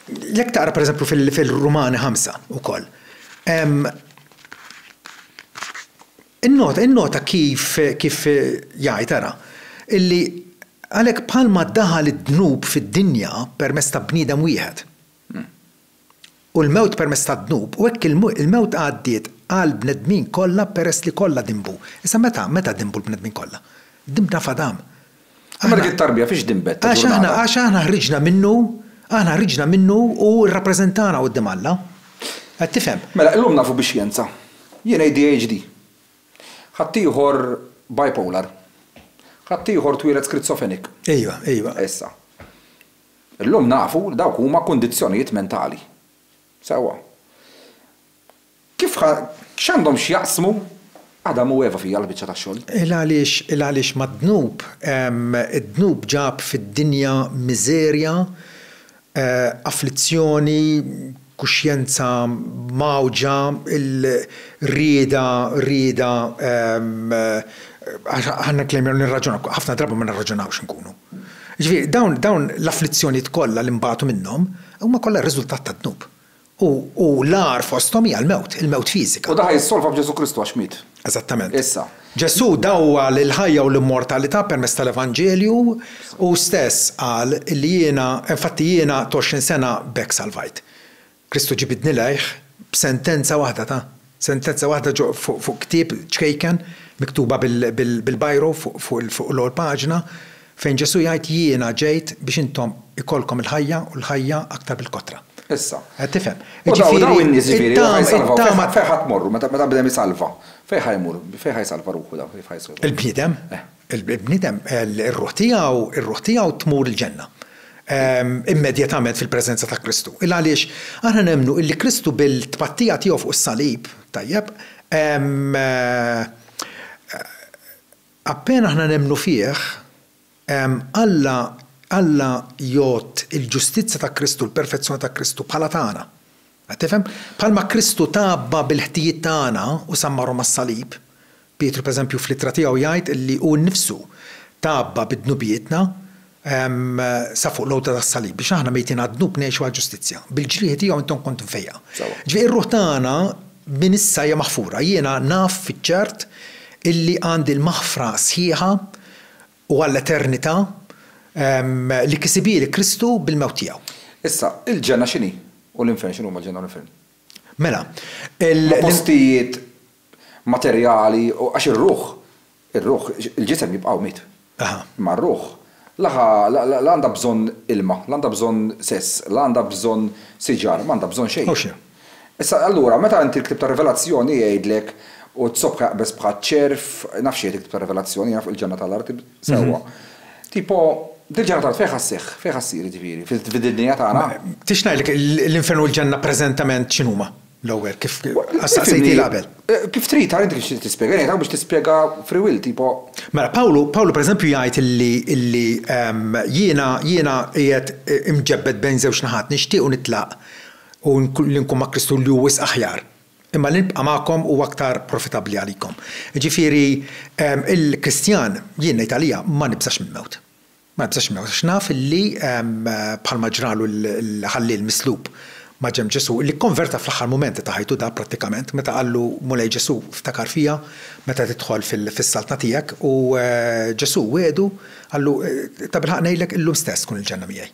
S1: jekk taqra pereżempju fil-Rumani ħamsa wkoll, innota, innota kif, kif jgħid, ara, illi għalhekk bħalma daħal id-dnub fid-dinja permezz ta' bniedem wieħed. u l-mewt permezz tad-dnub, u hekk il-mewt għaddiet għall-bnedmin kollha peress li kollha dinbu. Issa meta, meta dinbu l-bnedmin kollha? Dinbna f'Adam. Imma dik it-tarbija fiex dinbet ta' ġurnata? Għax aħna ħriġna minnu, aħna ħriġna minnu u hu rrappreżentana quddiem Alla. Qed tifhem? Mela, illum nafu bix-xjenza. Jien ADHD. Ħaddieħor bipolar. Ħaddieħor twieled schrizophrenic. Ejwa, ejwa. Issa. Illum nafu li dawk huma kundizzjonijiet mentali. Sewwa. Kif ħa, x'għandhom x'jaqsmu Adam u Eva fija l-biċċa tax-xogħol? Il għaliex, il għaliex mad-dnub, id-dnub ġab fid-dinja miżerja, afflizzjoni, kuxjenza mgħawġa, il-rieda, rieda, għax aħna nklejmjaw li nirraġunaw, ħafna drabi ma nirraġunawx inkunu. Jiġifieri dawn, dawn l-afflizzjonijiet kollha li nbagħtu minnhom huma kollha r-riżultat tad-dnub. U, u l-agħar fosthom hija l-mewt, il-mewt fiżika. U dan ħa jissolva b'Ġesù Kristu għax miet. Eżattament. Issa. Ġesù dawwa l-ħajja u l-immortalità permezz tal-Evanġelju u stess qal li jiena, infatti jiena t'għoxrin sena b'hekk salvajt. Kristu ġibidni lejh b'sentenza waħda ta', sentenza waħda ġo fuq ktieb ċkejken, miktuba bil-biro fuq l-ewwel paġna, Fejn Ġesù jgħid Jiena ġejt biex intom ikollkom il-ħajja u l-ħajja aktar bil-kotra. Issa. Qed tifhem? U dawn, u dawn in-nies, jiġifieri, li ħa jsalvaw, fejn ħa, fejn ħa tmorru meta, meta bnedem isalva? Fejn ħa jmur? Fejn ħa jsalva ruħu dawn? Kif ħa jsalvaw? Il-bniedem? Eh. Il-bniedem, ir-ruħ tiegħu, ir-ruħ tiegħu tmur il-Ġenna. Immedjatament fil-preżenza ta' Kristu. Il għaliex aħna nemmnu illi Kristu bil-tpattija tiegħu fuq is-salib, tajjeb, Appena aħna nemmnu fih, Alla Alla jgħodd il-ġustizzja ta' Kristu, l-perfezzjoni ta' Kristu, bħala tagħna. Qed tifhem? Bħalma Kristu tgħabba bil-ħtijiet tagħna u sammarhom mas-salib, Pietru pereżempju fl-ittra tiegħu jgħid li hu nnifsu tgħabba bid-dnubietna, sa fuq l-għodda tas-salib, biex aħna mejtin għad-dnub ngħixu għall-ġustizzja. Bil-ġrieħi tiegħu intom kontu mfejjqa. Ġifieri r-ruħ tagħna minn issa hija maħfura. Jiena naf fiċ-ċert illi għandi l-maħfra sħiħa u għall-eternità li kisibhieli Kristu bil-mewt tiegħu. Issa, il-ġenna x'inhi? U l-infern, x'inhuma l-ġenna u l-infern? Mela, il. Huma postijiet materjali, għax ir-ruħ, ir-ruħ, il-ġisem jibqa' miet. Imma r-ruħ, la ħa, la għandha bżonn ilma, la għandha bżonn sess, la għandha bżonn siġar, ma għandha bżonn xejn. Issa, allura, meta inti l-Ktieb tar-Rivelazzjoni jgħidlek, U t-sobħ jaqbeż bħaċ-ċerv, naf x'jgħid il-Ktieb tar-Rivelazzjoni, jgħid fuq il-ġenna tal-art, sewwa. Tipo, dil-ġenna tal-art fejn ħa sseħħ, fejn ħa ssir, jiġifieri, fid-dinja tagħna? Tridx ngħidlek l-infern u l-ġenna preżentament x'inhuma? L-ewwel, kif staqsejtni qabel. Kif trid, tara inti kif trid tispjega. Ngħid hawn biex tispjega free will, tipo. Mela, Pawlu, Pawlu pereżempju jgħid illi, illi jiena, jiena qiegħed imġebbed bejn żewġ naħat, nixtieq u nitlaq u li nkun ma' Kristu li hu wisq aħjar, imma li nibqa' magħkom huwa aktar profitabbli għalikom. Jiġifieri, il-Kristjan, jien ngħid għalija, ma nibżax mill-mewt. Ma nibżax minnek, għax naf li, bħalma ġralu l-ħalliel mislub ma' ġenb Ġesù, li kkonverta fl-aħħar mumenti ta' ħajtu da prattikament, meta qallu, Mulej Ġesù, ftakar fija meta tidħol fis-Saltna tiegħek, u Ġesù wiegħdu, qallu, Tabilħaqq ngħidlek, illum stess tkun il-Ġenna miegħi.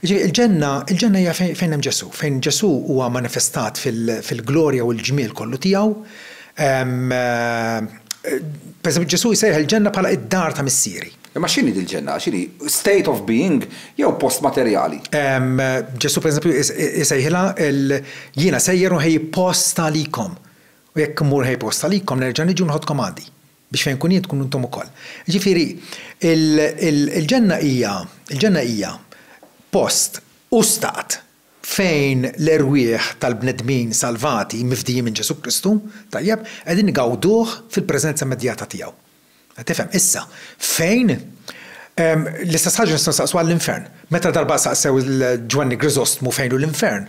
S1: Jiġifieri l-Ġenna, il-Ġenna hija fejn hemm Ġesù, fejn Ġesù huwa manifestat fil-glorja u l-ġmiel kollu tiegħu. Pereżempju, Ġesù jsejjaħ il-Ġenna bħala d-dar ta' Missieri. Imma x'inhi dil-ġenna? X'inhi? State of being jew post materjali? Ġesù pereżempju isejħilha l, Jiena sejjer u nħejji post għalikom, u jekk immur nħejji post għalikom, nerġa' niġi u niħodkom għandi, biex fejn inkun jien tkunu intom ukoll. Jiġifieri, il-ġenna hija, il-ġenna hija post u stat fejn l-erwieħ tal-bnedmin salvati, mifdijin minn Ġesù Kristu, tajjeb, qegħdin igawduh fil-preżenza immedjata tiegħu. Qed tifhem? Issa, fejn L-istess ħaġa nistgħu nsaqsu għall-infern. Meta darba saqsew lil Ġwanni Griżostmu fejn hu l-infern,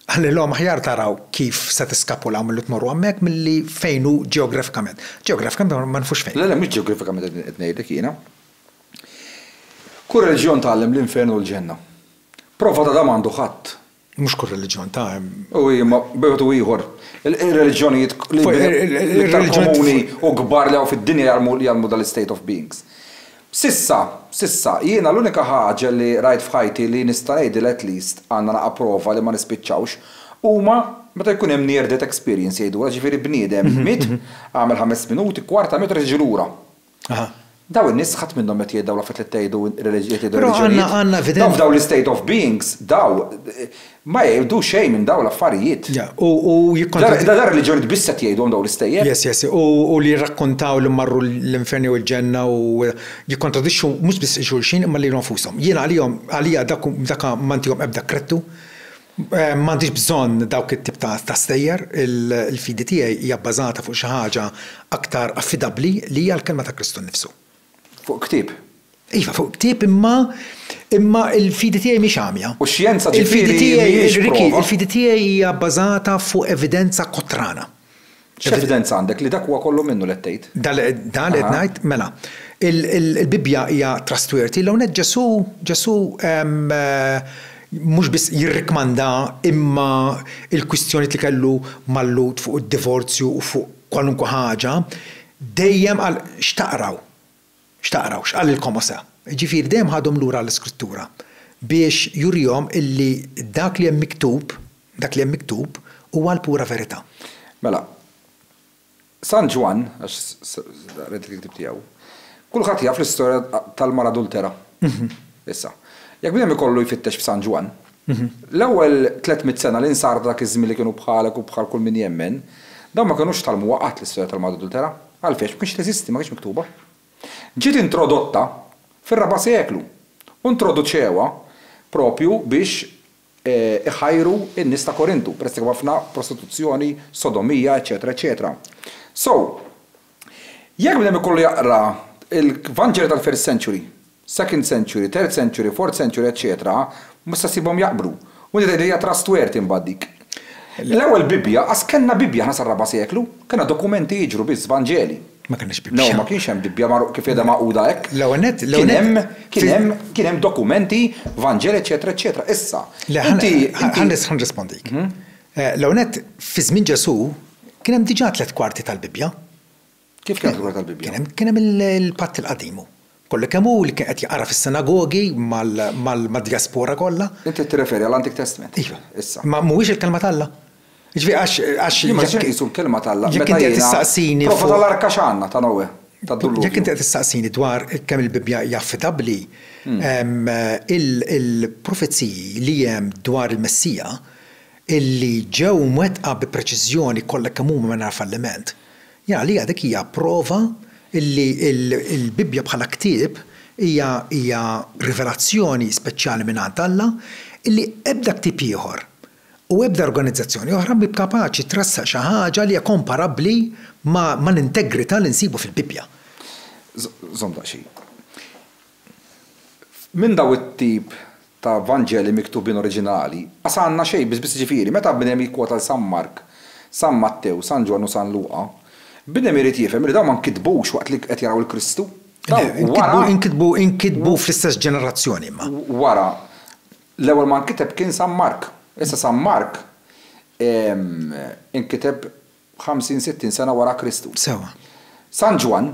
S1: qalilhom aħjar taraw kif se tiskapulaw milli tmorru hemmhekk milli fejn hu ġeografikament. Ġeografikament ma nafux fejn. Le, le, mhux ġeografikament qed ngħidlek jiena. Kull reliġjon tgħallem l-infern u l-ġenna. Prova ta' dan m'għandu ħadd. Mhux kull reliġjon ta' hemm. U imma b'mod u ieħor, ir-reliġjonijiet l-iktar komuni u kbar li hawn fid-dinja jgħallmu jgħallmu dan l-istate of beings. S'issa, s'issa, jiena l-unika ħaġa li rajt f'ħajti li nista' ngħidilha at least għandna naqa' prova li ma nispiċċawx, huma meta jkun hemm near death experience jgħidulha, jiġifieri bniedem jmiet, għamel ħames minuti, kwarta minuta, jerġa' jiġi lura. Aha. Daw in-nies ħadd minnhom qed jgħid dawn l-affarijiet li qed tgħidu qed jgħidu reliġjonijiet. Però għandna għandna evidenza. Daw f'dawn l-state of beings daw ma jgħidu xejn minn daw l-affarijiet. Ja, u u jikkontradi. Da da reliġjonijiet biss qed jgħidhom daw l-istejjer. Yes, yes, u u li jirrakkontaw li marru l-infern jew il-ġenna u jikkontradixxu mhux biss xulxin imma lilhom nfushom. Jiena għalihom għalija dak dak ma ntihom ebda kredtu M'għandix bżonn dawk it-tip ta' stejjer. Il-fidi tiegħi hija bbażata fuq xi ħaġa aktar affidabbli li hija l-Kelma ta' Kristu nnifsu. Fuq ktieb? Iva, fuq ktieb imma imma l-fidi tiegħi mhix għamja. U x-xjenza ġifieri mhijiex prova? Il-fidi tiegħi hija bbażata fuq evidenza kotrana. X'evidenza għandek li dak huwa kollu minnu li qed tgħid? Dan li qed dan li qed ngħid, mela, il, il, il-Bibbja hija trustworthy, l-hawn hekk Ġesù, Ġesù mhux biss jirrikkmanda imma l-kwistjonijiet li kellu mal-Lhud fuq id-divorzju u fuq kwalunkwe ħaġa, dejjem qal x'taqraw. X'taqraw? X'qalilkom Mosè? Jiġifieri dejjem ħadhom lura għall-Iskrittura biex jurihom illi dak li hemm miktub, dak li hemm miktub huwa l-pura verità. Mela, San Ġwann, għax qrajt il-ktieb tiegħu, kulħadd jaf l-istorja tal-mara adultera. Issa, jekk bniedem ikollu jfittex f'San Ġwann, l-ewwel tliet mitt sena li nsar dak iż-żmien li kienu bħalek u bħal kull min jemmen, dawn ma kinux tgħallmuha qatt l-istorja tal-mara adultera. Għalfiex? Biex teżisti, ma kinitx miktuba. Ġiet introdotta fir-raba' seklu u introduċewha proprju biex iħajru n-nies ta' Korintu, peress li kien hemm ħafna prostituzzjoni, sodomija, eċċetera eċċetera. So, jekk bniedem ikollu jaqra l-Vanġelu tal-first century, second century, third century, fourth century eċċetera, ma tistax ssibhom jaqblu. U inti tgħidli li hija trustworthy mbagħad dik. L-ewwel Bibbja, qas kellna Bibbja aħna sar-raba' seklu. Kellna dokumenti jiġru biss, Vanġeli. Ma kellniex Bibbja. No, ma kienx hemm Bibbja mar kif qiegħda magħquda hekk. L-ewwel nett, l-ewwel nett. Kien hemm, kien hemm, kien hemm dokumenti, Vanġeli eċċetera eċċetera. Issa, inti, inti. Le, ħa nirrispondik. L-ewwel nett, fi żmien Ġesù kien hemm diġà tliet kwarti tal-Bibbja. Kif kienet il-Kura tal-Bibbja? Kien hemm il-Patt il-Qadim hu. Kollu kemm hu li kien qed jaqra fis-sinagogi mad-djaspora kollha. Int qed tirreferi għall-Antik Testment? Iva. Issa. Ma mhuwiex il-Kelma t'Alla? Jiġifieri għax, għax. Jien ma nistax inqisu l-Kelma t'Alla meta jiena. Jekk inti qed tistaqsini. Prova tal-arka x'għandna ta' Noè, tad-dilluvju. Jekk inti qed tistaqsini dwar kemm il-Bibbja hi affidabbli, il-profeziji li hemm dwar il-Messija li ġew mwettqa bi preċiżjoni kollha kemm huma mingħajr falliment, Għalija dik hija prova li l-Bibbja bħala ktieb hija rivelazzjoni speċjali mingħand Alla li ebda ktieb ieħor u ebda organizzazzjoni oħra mhi kapaċi tressaq xi ħaġa li hija komparabbli mal-integrità li nsibu fil-Bibbja. Żomm daqsxejn. Minn dawn it-tip ta' Vanġeli miktubin oriġinali, qas għandna xejn, biss biss jiġifieri, meta bniem jikkwota 'l San Mark, San Mattew, San Ġwann u San Luqa, bniem irid jifhem li dawn ma nkitbux waqt li qed jaraw 'l Kristu. Dawn wara. Inkitbu, inkitbu fl-istess ġenerazzjoni imma. Wara. L-ewwel ma nkiteb kien San Mark. Issa San Mark inkiteb ħamsin, sittin sena wara Kristu. Sewwa. San Ġwann.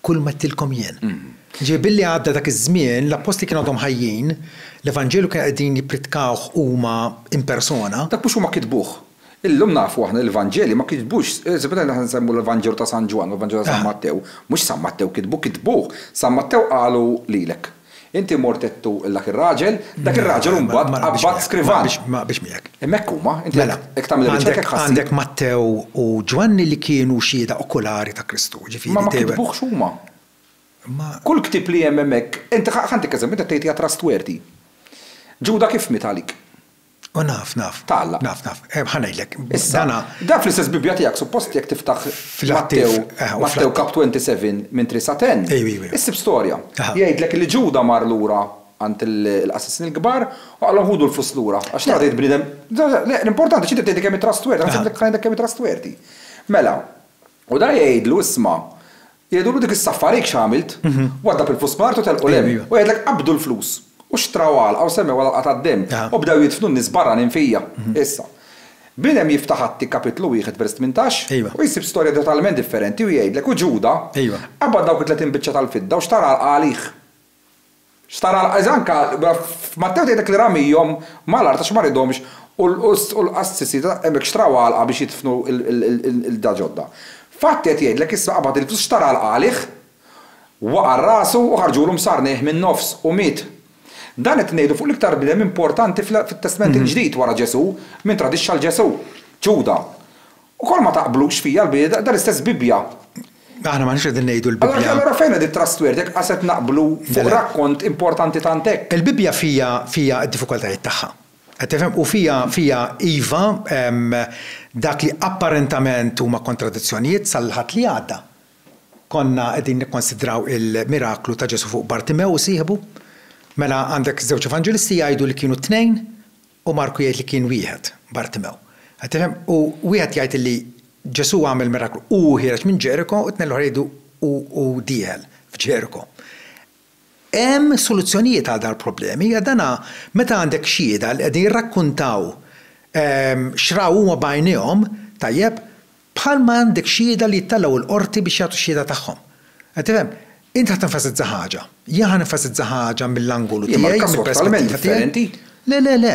S1: kulma għedtilkom jien. Jiġifieri billi għadda dak iż-żmien, l-appostli kienu għadhom ħajjin, l-Evanġelu kienu qegħdin jippritkawh huma in persona. Dak mhux huma kitbuh. Illum nafu aħna li l-Vanġeli ma kitbux, speċjalment aħna nsemmu l-Vanġelu ta' San Ġwann u l-Vanġelu ta' San Mattew, mhux San Mattew kitbu, kitbuh. San Mattew qalu lilek. Inti mort għedtu 'l dak ir-raġel, dak ir-raġel imbagħad qabbad skrivan. Ma qbilx miegħek. Hemmhekk huma, inti jekk tagħmel ir-riċerka jekk ħassib. Għandek Mattew u Ġwanni li kienu xhieda okulari ta' Kristu, jiġifieri. Imma ma kitbuhx huma. Kull ktieb li hemm hemmhekk, inti ħa ntik eżempju, inti qed tgħid hija trustworthy. Ġuda kif miet għalik? U naf, naf. Tagħlaq. Naf, naf. Eh, ħa ngħidlek. Issa, Dana. dan fl-istess Bibbja tiegħek suppost jekk tiftaħ Fl-Atti- Mattew, eh, u Mattew fl-Atti. kap 27 minn 3 sa 10, Ejw, ejw, ejw. issib storja. Aha. Jgħidlek li Ġuda mar lura għand il- il-qassisin il-kbar u qalhom ħudu l-flus lura għax Le. tgħaddejt bniedem. Le, le, le, l-importanti x'inti tgħidli kemm hi trustworthy, ħa Aha. nsib lek, ħa ngħidlek kemm hi trustworthy. Mela. U dan jgħidlu, Isma', jgħidulu dik is-saffa rejk x'għamilt? Waddab il-flus fl-art u telqu 'l hemm. U jgħidlek qabdu l-flus u xtraw għalqa u semmew għal-għalqa tad-demm u bdew jidfnu n-nies barranin fija. Issa, bniedem jiftaħ Atti kapitlu wieħed vers tmintax u jsib storja totalment differenti u jgħidlek, U Ġuda qabad dawk it-tletin biċċa tal-fidda u xtara għalqa għalih. X'tara l-qadis anka f'Mattew tgħidlek li ramihom mal-art għax ma ridhomx u l-qassisi hemmhekk xtraw għalqa biex jidfnu l-ilda ġodda. F'Atti qed jgħidlek issa qabad il-flus xtara l-qagħliħ, waqa' rasu u ħarġulu msarnejh min-nofs u miet. Dan qed ngħidu fuq l-iktar bniedem importanti fit-Testment il-Ġdid wara Ġesù, min tradixxa 'l Ġesù, Ġuda. Ukoll ma taqblux fija l-Biebda, dan l-istess Bibbja. Aħna m'aħniex qegħdin ngħidu l-Bibbja. Allura allura fejn qed it-trustword jekk qas qed naqblu fuq rakkont importanti tant hekk? Il-Bibbja fija fija d-diffikultajiet tagħha. Qed tifhem? U fija fija iva hemm dak li apparentament huma kontradizzjonijiet sal-Ħadd li għadda. Konna qegħdin nikkonsidraw il-miraklu ta' Ġesù fuq Bartimew u sieħbu. Mela għandek żewġ Evanġelisti jgħidu li kienu t-tnejn. U Marku jgħid li kien wieħed, Bartimew. Qed tifhem? U wieħed jgħid li Ġesù għamel miraklu, hu ħiereġ minn Ġeriko, u t-tnejn l-oħra jgħidu hu hu dieħel f'Ġeriko. Hemm soluzzjonijiet għal dawn il-problemi, għax dan meta għandek xhieda li qegħdin jirrakkuntaw x'raw huma b'għajnejhom, tajjeb, Bħal ma għandek xhieda li jittellgħu l-Qorti biex jagħtu x-xhieda tagħhom. Qed tifhem? Int ħa tenfasizza ħaġa. Jien ħa nenfasizza ħaġa mill-angolu tiegħi, mill-perspettiva tiegħi. Imma l-każ huwa totalment differenti. Le, le, le,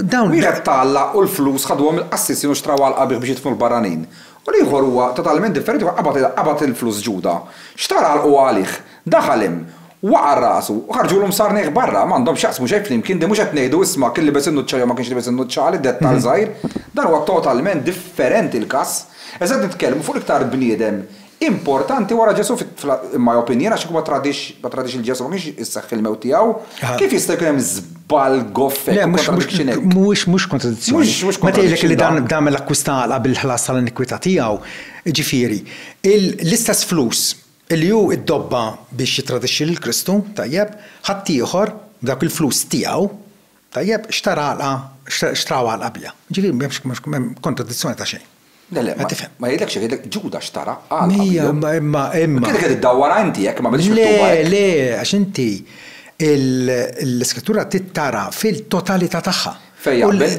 S1: dawn. Wieħed ta Alla u l-flus ħadhuhom mill-qassisin u xtraw għal qabiħ biex jidfnu l-barranin. U l-ieħor huwa totalment differenti, huwa qabad il-flus Ġuda. Xtara għal quha għalih. Daħal hemm, waqa' rasu, u ħarġulu msarneħ barra. M'għandhom x'jaqsmu xejn flimkien, din mhux qed ngħidu isma' kien libes in-nuċċali jew ma kienx libes in-nuċċali, dettall żgħir. Dan huwa totalment differenti l-każ. Iżda qed nitkellmu fuq l-iktar bniedem importanti wara Ġesù fit, in my opinion, għax kieku ma tradix, ma tradix lil Ġesù ma kienx isseħħ il-mewt tiegħu. Kif jista' jkun hemm żball goff hekk u kontradiction hekk? Le, mhux, mhux kontradizzjoni. Mhux, mhux kontradiction dan. Meta jgħidlek li dan għamel akkwista għalqa bil-ħlas tal-inikwità tiegħu, jiġifieri, l-istess flus, Illi hu ddobba biex jittradixxi lil Kristu, tajjeb, ħaddieħor, b'dawk il-flus tiegħu, tajjeb, xtara għalqa, xtraw għalqa biha. Jiġifieri m'hemmx m'hemm kontradizzjoni ta' xejn. Le, le, ma jgħidlekx hekk, jgħidlek Ġuda xtara għalqa biha. Ija, imma, imma, imma. Kienet qed iddawwarha inti hekk, ma mhilhiex miktuba hekk. Le, le, għax inti l-Iskrittura trid tara fil-totalità tagħha. Fej jaqbel?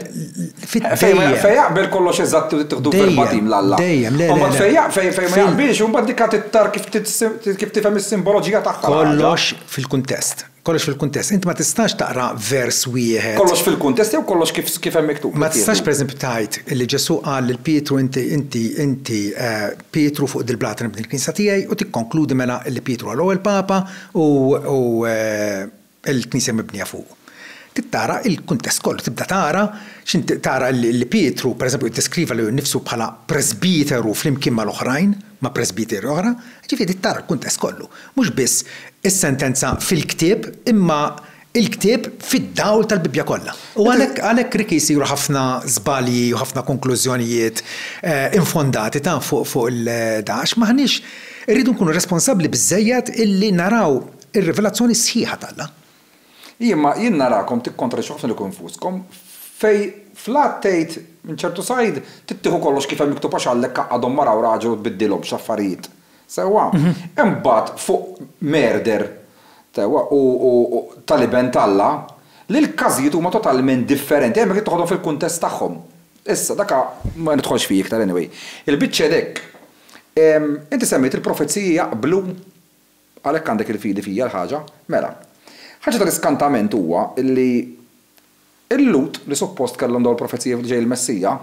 S1: Fej jaqbel kollox eżatt u tiħdu verbatim l-Alla. Dejjem, le. Imbagħad fej jaqbel, fej ma jaqbilx, imbagħad dik tittar kif tifhem is-simboloġija tagħha. Kollox fil-kuntest. Kollox fil-kuntest. Inti ma tistax taqra vers wieħed. Kollox fil-kuntest jew kollox kif hemm miktub. Ma tistax pereżempju tgħid li Ġesù qal lil Pietru inti inti inti Pietru fuq dil-blat nibni l-knisja tiegħi u tikkonkludi mela li Pietru huwa l-ewwel papa u il-knisja mibnija fuq. Trid tara l-kuntest kollu, tibda tara x'in tara li Pietru, pereżempju, iddeskriva lilu nnifsu bħala presbiteru flimkien mal-oħrajn, ma' presbiteri oħra, jiġifieri trid tara l-kuntest kollu. Mhux biss is-sentenza fil-ktieb imma l-ktieb fid-dawl tal-Bibbja kollha. U għalhekk għalhekk Ricky jsiru ħafna żbalji u ħafna konklużjonijiet infondati taf fuq fuq il-da għax m'aħniex irridu nkunu responsabbli biżżejjed illi naraw Ir-rivelazzjoni sħiħa t'Alla. Imma jien narakom tikkontradixxu ħafna lilkom infuskom, fejn fl-Att tgħid, minn ċertu sajd, tittieħu kollox kif hemm miktub għax għandlek qaqqadhom mara u raġel u tbiddilhomx affarijiet. Sewwa? Imbagħad fuq murder, sewwa, u tal-Iben t'Alla, li l-każijiet huma totalment differenti, hemmhekk trid toħodhom fil-kuntest tagħhom. Issa, dak ma nidħolx fih iktar anyway. Il-biċċa hi dhekk, inti semmejt il-profeziji jaqblu Għalhekk għandek il-fidi fija l-ħaġa? Mela. Ħaġa tal-iskantament huwa li l-Lhud li suppost kellhom dawn il-profeziji li ġej il-Messija,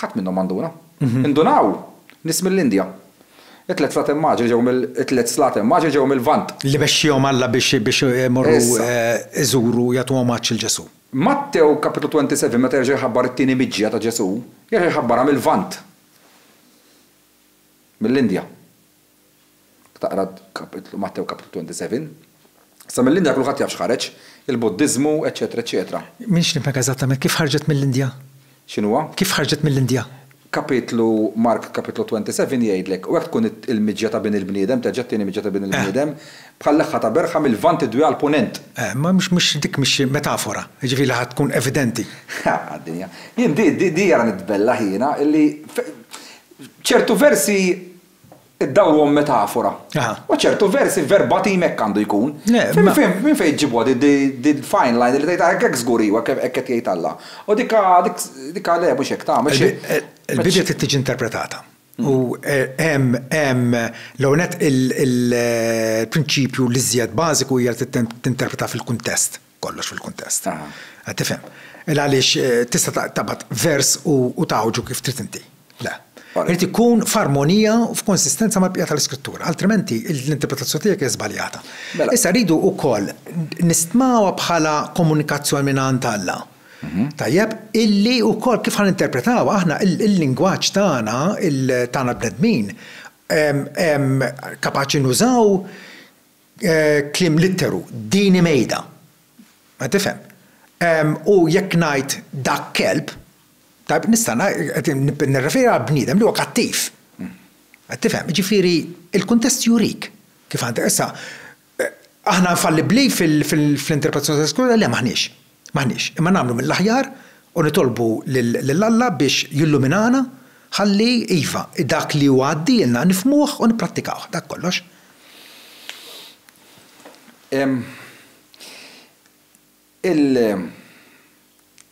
S1: ħadd minnhom ma nduna. Indunaw nies mill-Indja. It-tliet Slati Immaġni ġew mill, it-tliet Slati Immaġni ġew mill-Lvant. Li mexxiehom Alla biex biex imorru iżuru, jagħtu omaġġ lil Ġesù. Mattew Kapitlu 27 meta jerġa' jħabbar it-tieni miġja ta' Ġesù, jerġa' jħabbarha mill-Lvant. Mill-Indja. taqra kapitlu, Mattew kapitlu 27, sa mill-Indja kulħadd jaf x'ħareġ, il-Buddiżmu, eċċetera, eċċetera. M'iniex nifhmek eżattament, kif ħarġet mill-Indja? X'inhuwa? Kif ħarġet mill-Indja? Kapitlu, Mark kapitlu 27 jgħidlek, U hekk tkun il-miġja ta' Bin il-bniedem, terġa' t-tieni miġja ta' Bin il-bniedem, bħal leħħa ta' berħa mill-Lvant idwiha għall-Punent. Eh, ma mhux, mhux, dik mhix xi metafora, jiġifieri li ħa tkun evidenti. Ħa, d-dinja. Jien di, di, di ara nitbellaħ jiena, illi ċertu versi Id-dawl huwa metafora. U ċertu versi verbatim hekk għandu jkun. Minn fejn ġġibuha din fine line li tgħid hekk żgur hi u hekk qed jgħid Alla. U dikha le mhux hekk tagħmel xejn. Il-Bibbja trid tiġi interpretata. U hemm l-ewwel nett il-prinċipju l-iżjed bażiku hija li tinterpreta fil-kuntest. kollox fil-kuntest. Qed tifhem. Il għaliex eh, tista' tabat vers u tawġu kif trid inti. Le. Irid ikun f'armonija u f'konsistenza ma' bqija tal-iskrittura, altrimenti l-interpretazzjoni tiegħek hija żbaljata. Mela. Issa rridu wkoll nistmawa bħala komunikazzjoni minn għand Alla. Mhm. Tajjeb, illi wkoll kif ħan interpretaw aħna il-lingwaġġ tagħna, il-tagħna bnedmin, kapaċi nużaw Kliem litteru, din hi mejda. Qed tifhem? U jekk ngħid dak kelb, tajjeb, nista' qed nirreferi għal bniedem li huwa kattiv. Qed tifhem? Jiġifieri l-kuntest jurik kif għandek. Issa, aħna infallibbli fl-interpretazzjoni tal-iskrittura? Le m'aħniex. M'aħniex, imma nagħmlu mill-aħjar u nitolbu lil Alla biex jilluminana ħalli, iva, dak li hu għaddielna nifhmuh u nipprattikawh. Dak kollox.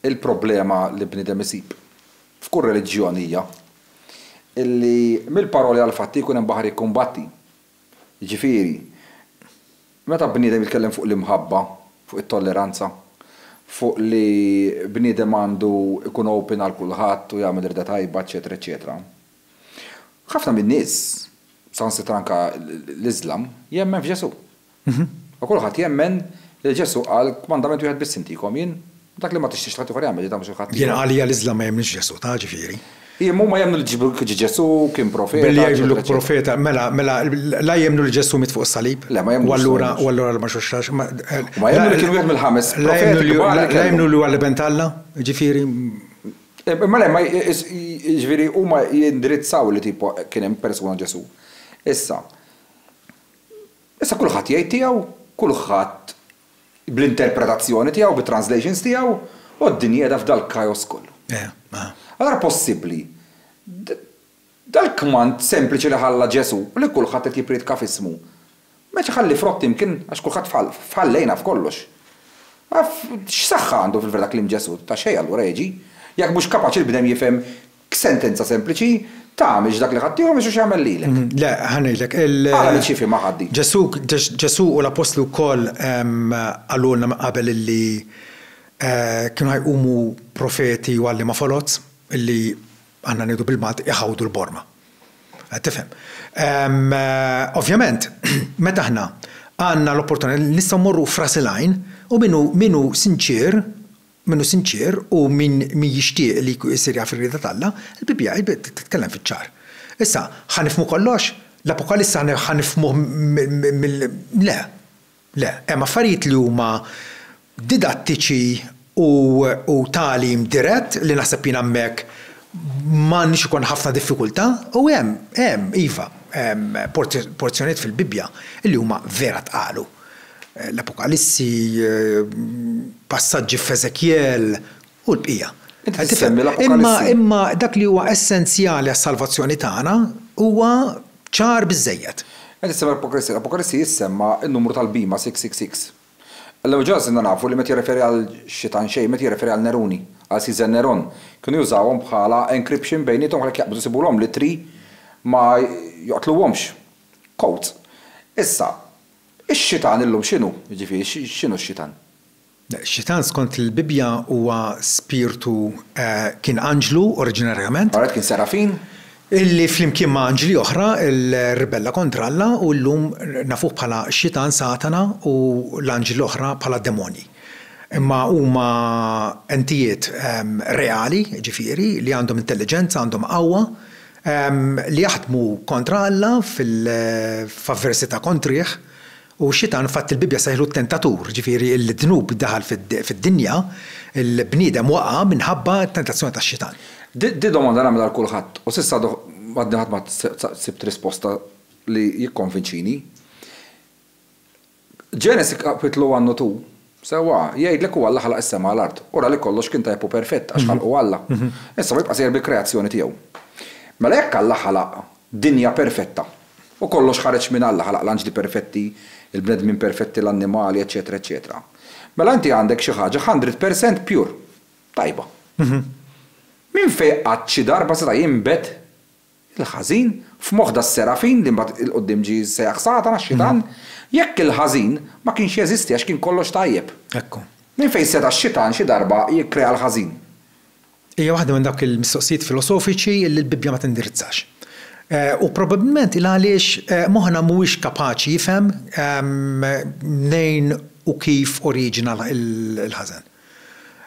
S1: Il-problema li bniedem isib f'kull reliġjon hija li mill-paroli għall-fatti jkun hemm baħar jikkumbatti. Jiġifieri, meta bniedem jitkellem fuq l-imħabba, fuq it-tolleranza, fuq li bniedem għandu jkun open għal kulħadd u jagħmel rieda tajba, eċċetera, eċċetera, ħafna min-nies, saħansitra anke l-Iżlam, jemmen f'Ġesù. U kulħadd jemmen li Ġesù qal kmandament wieħed biss intikom, jien Dak li ma tixtiex li ħaddieħor jagħmel, tagħmlu xi ħadd ieħor. Jiena għalija l-Iżlam ma jemmnix Ġesù, ta' ġifieri. Hi, imma huma jemmnu li Ġesù kien profeta. Billi jgħidlu profeta, mela, mela, la jemmnu li Ġesù miet fuq is-salib. Le, ma jemmnux. U allura, u allura l-ma xuxxax. Ma jemmnu li kien wieħed mill-ħames profeti. La jemmnu li huwa l-Iben t'Alla, ġifieri. Imma le, ġifieri huma jindirizzaw li tipo kien hemm persuna Ġesù. Issa, issa kulħadd jgħid tiegħu, kulħadd bl-interpretazzjoni tiegħu, bit-translations tiegħu, u d-dinja qiegħda f'dal-chaos kollu. Allura possibbli dal-kmand sempliċi li ħalla Ġesù, li kulħadd qed jippriedka f'ismu, ma qedx iħalli frott imkien għax kulħadd f'ħallejna f'kollox. X'saħħa għandu fil-verità kliem Ġesù? Ta' xejn allura jiġi, jekk mhux kapaċi l-bnedem jifhem Sentenza sempliċi, Ta' mhix dak li ħadt tiegħu mhix hu x'jagħmel lilek. Le, ħa ngħidlek, il. Ara min x'jifhimha ħadd din. Ġesù, Ġesù u l-Appostli wkoll qalulna minn qabel illi kienu ħa jqumu profeti u għalliema foloz illi, aħna ngħidu bil-Malti, iħawdu l-borma. Qed tifhem? Ovvjament, meta aħna għandna l-opportunità li nistgħu mmorru f'ras il-għajn u min hu, min hu sinċier, Min hu sinċier u min min jixtieq li jsir jaf ir-rieda t'Alla, il-Bibbja hi titkellem fiċ-ċar. Issa, ħa nifhmu kollox? L-Apokaliss ħa nifhmuh mill-, le. Le. Hemm affarijiet li huma didattiċi u u tagħlim dirett li naħseb jien hemmhekk ma għandniex ikollna ħafna diffikultà u hemm, hemm, iva, porzjonijiet fil-Bibbja li huma vera tqalu. l-Apokalissi, passaġġi f'Eżekjel, u l-bqija. Inti qed isemmi l-Apokalissi. Imma dak li huwa essenzjali għas-salvazzjoni tagħna huwa ċar biżżejjed. Qed issemmi l-Apokalissi. L-Apokalissi jissemma n-numru tal-bhima, 666. Illum il-ġurnata sirna nafu li meta jirreferi għal xi tanxej, meta jirreferi għal Neruni, għal Siżar Neron, kienu jużawhom bħala encryption bejniethom għalhekk jaqbdu jsibulhom l-ittri ma joqtluhomx. Quote, Issa, ix-xitan illum x'inhu? Jiġifieri, x'inhu x-xitan? Ix-xitan skont il-Bibbja huwa spirtu, kien anġlu oriġinarjament. Alright, kien serafin. Illi flimkien ma' anġli oħra rribella kontra Alla u llum nafuh bħala x-xitan, Satana, u l-anġli l-oħra bħala d-demonji. Imma huma entijiet reali, jiġifieri, li għandhom intelliġenza, għandhom qawwa, Li jaħdmu kontra Alla f'avversità kontrih, u x-Xitan fatt il-Bibbja sejħlu t-tentatur, jiġifieri d-dnub daħal fid-dinja, il-bniedem waqa' minħabba t-tentazzjoni tax-Xitan. Di domanda nagħmilha għal kulħadd u s'issa għadni ħadd ma sibt risposta li jikkonvinċini. Ġenesi Kapitlu One u Two, sewwa, jgħidlek u Alla ħalaq is-sema u l-art, u ra li kollox kien tajjeb u perfett, għax ħalqu Alla. Issa hu jibqa' sejjer bil-kreazzjoni tiegħu. Mela jekk Alla ħalaq dinja perfetta, u kollox ħareġ minn Alla, ħalaq l-anġli perfetti, il-bnedmin perfetti, l-annimali, eċċetera, eċċetera, mela inti għandek xi ħaġa hundred percent pure, tajba. Minn fejn qatt xi darba seta' jinbet Il-ħażin, f'moħħ das-Serafin, li mbagħad 'il quddiem ġie sejjaħ Satana, x-Xitan, jekk il-ħażin ma kienx jeżisti għax kien kollox tajjeb. Hekk hu. Minn fejn seta' x-Xitan xi darba jikkrea l-ħażin? Hija waħda minn dawk il-mistoqsijiet filosofiċi li l-Bibbja ma tindirizzax. U probabbilment hi għaliex moħħna mhuwiex kapaċi jifhem mnejn u kif oriġina l-ħażen.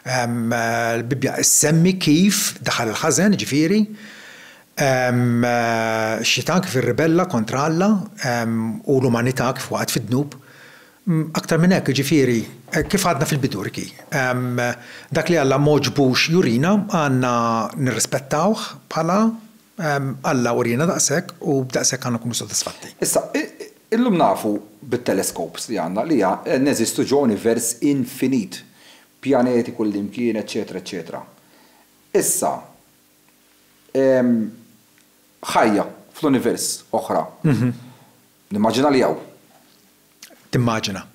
S1: Il-Bibbja ssemmi kif daħal il-ħażen, jiġifieri x-Xitan kif irribella kontra Alla u l-umanità kif waqgħet fid-dnub. Aktar minn hekk, jiġifieri, kif għadna fil-bidu, Ricky, dak li Alla m'għoġbux jurina għandna nirrispettawh bħala Alla uriena daqshekk u b'daqshekk għandna nkunu sodisfatti. Issa, illum nafu bit-telescopes li għandna li neżistu ġo univers infinit, pjaneti kullimkien, eċċetera, eċċetera. Issa, ħajja fl-univers oħra, nimmaġina li hawn. Timmaġina.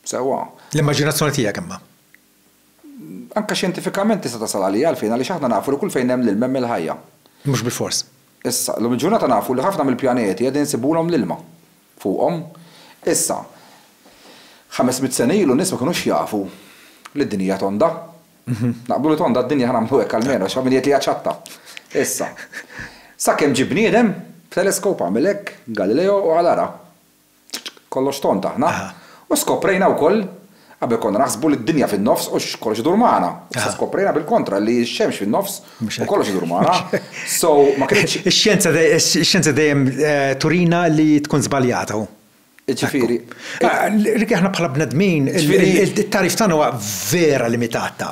S1: Sewwa. L-immaġinazzjoni tiegħek imma. Anke xjentifikament tista' tasal għalija għalfejn għaliex aħna nafu li kull fejn hemm l-ilma hemm il-ħajja. Mhux bilfors. Issa, llum il-ġurnata nafu li ħafna mill-pjaneti qegħdin insibulhom l-ilma fuqhom. Issa, ħames mitt sena ilu n-nies ma kinux jafu li d-dinja hija tonda. Naqblu li tonda d-dinja ħa nagħmlu hekk almenu għax hawn min jgħid li hija ċatta. Issa, sakemm ġie bniedem b'teleskop għamel hekk, Galileo, u qal ara. Kollox tond aħna. U skoprejna wkoll, qabel konna naħsbu li d-dinja fin-nofs u x'kollox idur magħna. Issa skoprejna bil-kontra li x-xemx fin-nofs u kollox idur magħna. So, ma kinitx. Ix-xjenza dejjem turina li tkun żbaljata, hu. Jiġifieri. Ricky, aħna bħala bnedmin, it-tagħrif tagħna huwa vera limitat ta'.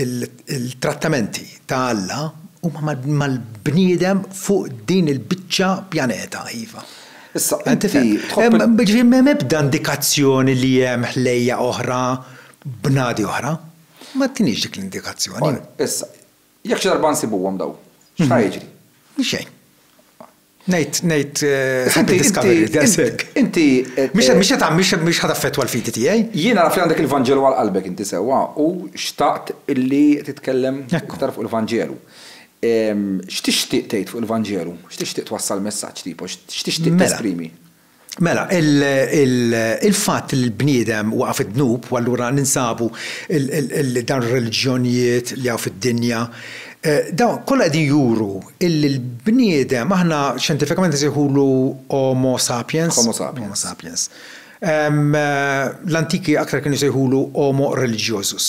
S1: Il-trattamenti ta' Alla huma mal-bniedem fuq din il-biċċa pjaneta, iva. Issa, inti tħobb. Jiġifieri m'hemm ebda indikazzjoni li hemm ħlejjaq oħra, bnadi oħra. Ma tiniex dik l-indikazzjoni. Issa, jekk xi darba nsibuhom dawn, x'ħa jiġri? Xejn. Ngħid, ngħid, ħadd id-discovery, daqshekk. Inti. Mhix, mhix qed, mhix, mhix ħadd affettwa l-fidi tiegħi. Jiena naf li għandek il-Vanġelu għal qalbek inti sewwa u xtaqt illi titkellem iktar fuq il-Vanġelu. X'tixtieq tgħid fuq il-Vanġelu? X'tixtieq twassal messaġġ tipo? X'tixtieq tesprimi? Mela, il-fatt li l-bniedem waqa' fid-dnub u allura ninsabu li dawn ir-reliġjonijiet li hawn fid-dinja, dawn kollha qegħdin juru illi l-bniedem aħna xjentifikament insejħulu Homo Sapiens. Homo Sapiens. Homo Sapiens. L-antiki aktar kienu jsejħulu Homo Religiosus.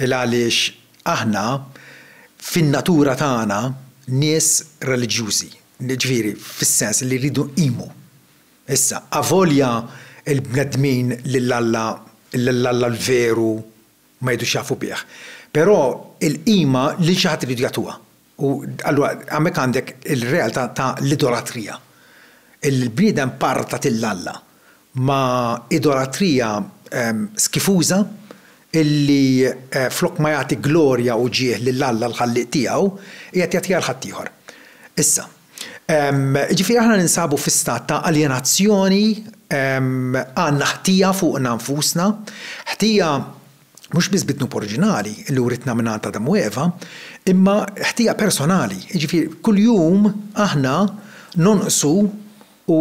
S1: Il għaliex aħna fin-natura tagħna nies reliġjużi, jiġifieri fis-sens li rridu nqimu. Issa, avolja l-bnedmin lil Alla, lil Alla l-veru ma jgħidux jafu bih, però l-qima lil xi ħadd iridu jagħtuha. U allura hemmhekk għandek il-realtà ta' l-idolatrija. Il-bniedem parta lil Alla ma' idolatrija skifuża illi flok ma jagħti glorja u ġieh lil Alla l-Ħallieq tiegħu, qiegħed jagħtiha 'l ħaddieħor. Issa, jiġifieri aħna ninsabu fi stat ta' aljenazzjoni, għandna ħtija fuqna nfusna, ħtija mhux biss bid-dnub oriġinali li writna mingħand Adam u Eva, imma ħtija personali, jiġifieri kuljum aħna nonqsu u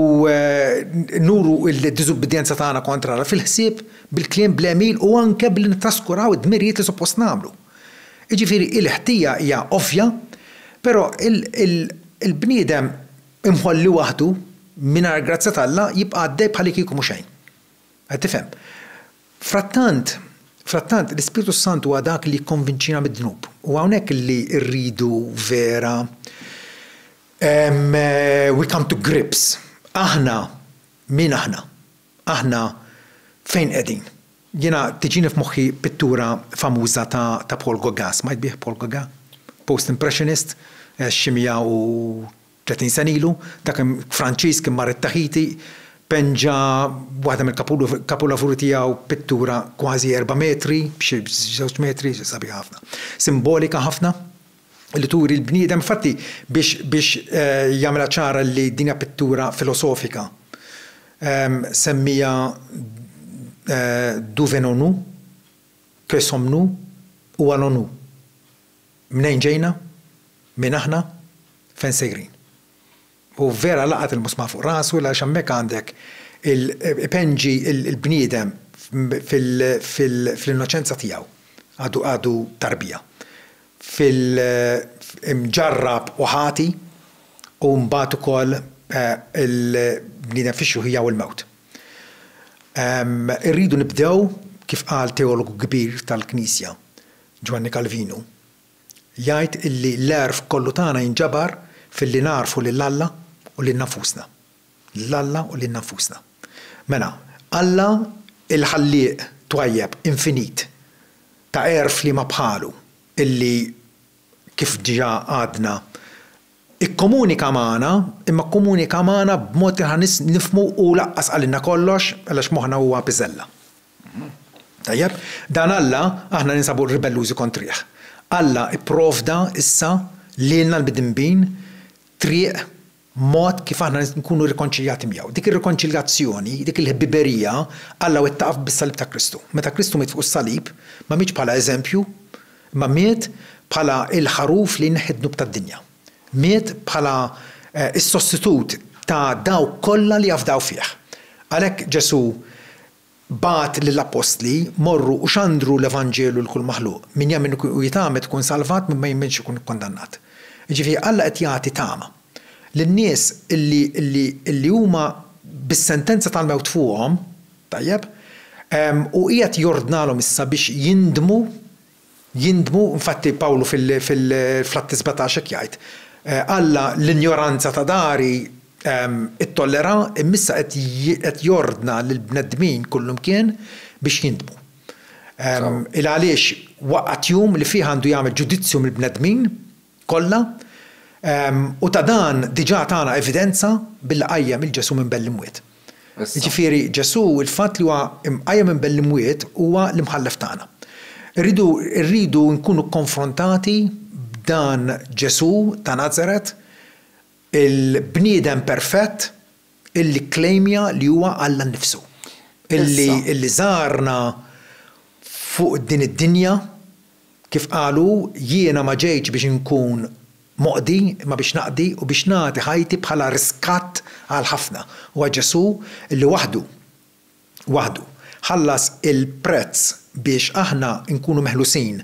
S1: nuru d-diżubbidjenza tagħna kontra Alla fil-ħsieb, bil-kliem, bl-għemil u anke billi nittraskuraw id-dmirijiet li suppost nagħmlu. Jiġifieri l-ħtija hija ovvja, però il-bniedem imħolli waħdu mingħajr grazzja t'Alla jibqa' għaddej bħalikieku mhu xejn. Qed tifhem? Frattant, frattant, l-Ispirtu s-Santu huwa dak li jikkonvinċina mid-dnub. Huwa hawnhekk li rridu vera we come to grips. Aħna min aħna? Aħna fejn qegħdin? Jiena tiġini f'moħħi pittura famuża ta' ta' Paul Gauguin, smajt bih Paul Gauguin? Post-Impressionist, xi 100 u Tletin sena ilu, dak Franċiż kien mar it-Taħiti, penġa waħda mill-kapulavuri tiegħu, pittura kważi erba' metri b'xi żewġ metri, sabiħa ħafna. Simbolika ħafna, li turi l-bniedem, infatti biex jagħmilha ċara li din hija pittura filosofika, semmiha D'où venons-nous, que sommes-nous ou allons-nous? Mnejn ġejna? Min aħna? Fejn sejrin? U vera laqat il-musmar fuq rasu għaliex hemmhekk għandek il, ipenġi l-bniedem fil-innoċenza tiegħu, għadu tarbija, fil, imġarrab u ħati u mbagħad ukoll il-bniedem fix-xjuħija u l-mewt. Irridu nibdew, kif qal teologu kbir tal-Knisja, Ġwanni Kalvinu, jgħid illi l-għerf kollu tagħna jinġabar filli nagħrfu lil Alla u lil nafusna. Lil Alla u lil nafusna. Mela, Alla il-Ħallieq twajjeb, infinit, ta għerf liema bħalu, illi, kif diġà għadna, ikkomunika magħna, imma kkomunika magħna b'mod li aħna nifhmu u laqqas qalilna kollox, għalax moħħna huwa piżella. Tajjeb, dan Alla aħna ninsabu ribellużi kontrih. Alla pprovda issa lilna l-midinbin triq, mod kif aħna nkunu rrikonċiljati miegħu. Dik ir-rikonċiljazzjoni, dik il-ħbiberija, Alla wettaqha bis-salib ta' Kristu. Meta Kristu miet fuq is-salib, ma mietx bħala eżempju, imma miet bħala l-ħaruf li jneħħi d-dnub tad-dinja. Miet bħala s-sostitut ta' dawk kollha li jafdaw fih. Għalhekk Ġesù bagħat lill-appostli, Morru u xandru l-evanġelu 'l kull maħluq. Min jemmen u jitgħammed ikun salvat, min ma jemminx ikun ikkundannat. Jiġifieri Alla qed jagħti tama lin-nies illi illi illi huma bis-sentenza tal-mewt fuqhom, tajjeb, u qiegħed jordnalhom issa biex jindmu, Jindmu, infatti Pawlu fl-Atti 17 hekk jgħid, Alla l-injoranza ta' dahri ttollera, imma issa qed jordna lill-bnedmin kullimkien biex jindmu. Il għaliex waqgħet jum li fih għandu jagħmel ġudizzju mill-bnedmin kollha, u ta' dan diġà tana evidenza billi qajjem lil Ġesù minn bell-imwiet. Jiġifieri Ġesù, il-fatt li huwa mqajjem minn bell-imwiet huwa l-Imħallef tagħna. Irridu, irridu nkunu kkonfrontati b'dan Ġesù ta' Nazaret, il-bniedem perfett illi kklejmja li huwa Alla nnifsu, illi, illi żarna fuq din id-dinja Kif qal hu, Jiena ma ġejtx biex inkun moqdi, imma biex naqdi u biex nagħti ħajti bħala riskatt għal ħafna. Huwa Ġesù li waħdu, waħdu, ħallas il-prezz biex aħna nkunu meħlusin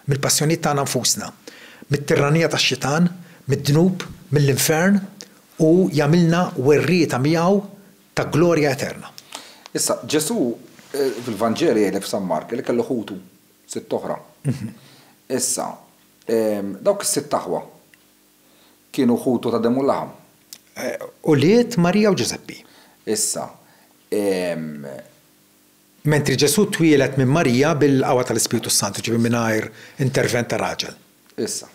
S1: mill-passjonijiet tagħna nfusna, mit-tirranija tax-Xitan, mid-dnub, mill-infern u jagħmilna werrieta miegħu ta' glorja eterna. Issa, Ġesù fil-Vanġeli jgħidlek f'San Mark li kellu ħutu Sitt oħra. Issa, dawk is-sitt aħwa kienu ħutu ta' demm u laħam. Ulied Marija u Ġużeppi. Issa, ehm. Mentri Ġesù twieled minn Marija bil-qawwa tal-Ispirtu s-Santu, ġifieri mingħajr intervent ta' raġel. Issa,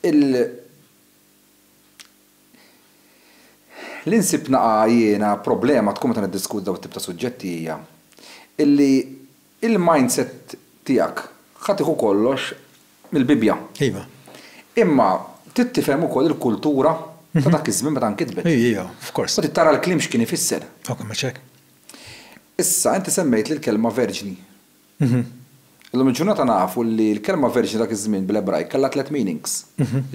S1: il. Li nsib naqa' jiena problema tkun meta niddiskuti dawn it-tip ta' suġġetti hija illi Il-mindset tiegħek ħa tieħu kollox mill-Bibbja. Iva. Imma trid tifhem ukoll il-kultura ta' dak iż-żmien meta nkitbet. Hi, hi, of course. U trid tara l-kliem x'kien ifisser. Oka mhux hekk. Issa, inti semmejt lill-kelma verġni. Illum il-ġurnata nafu li l-kelma verġni dak iż-żmien bil-Ebrajk kellha tliet meanings.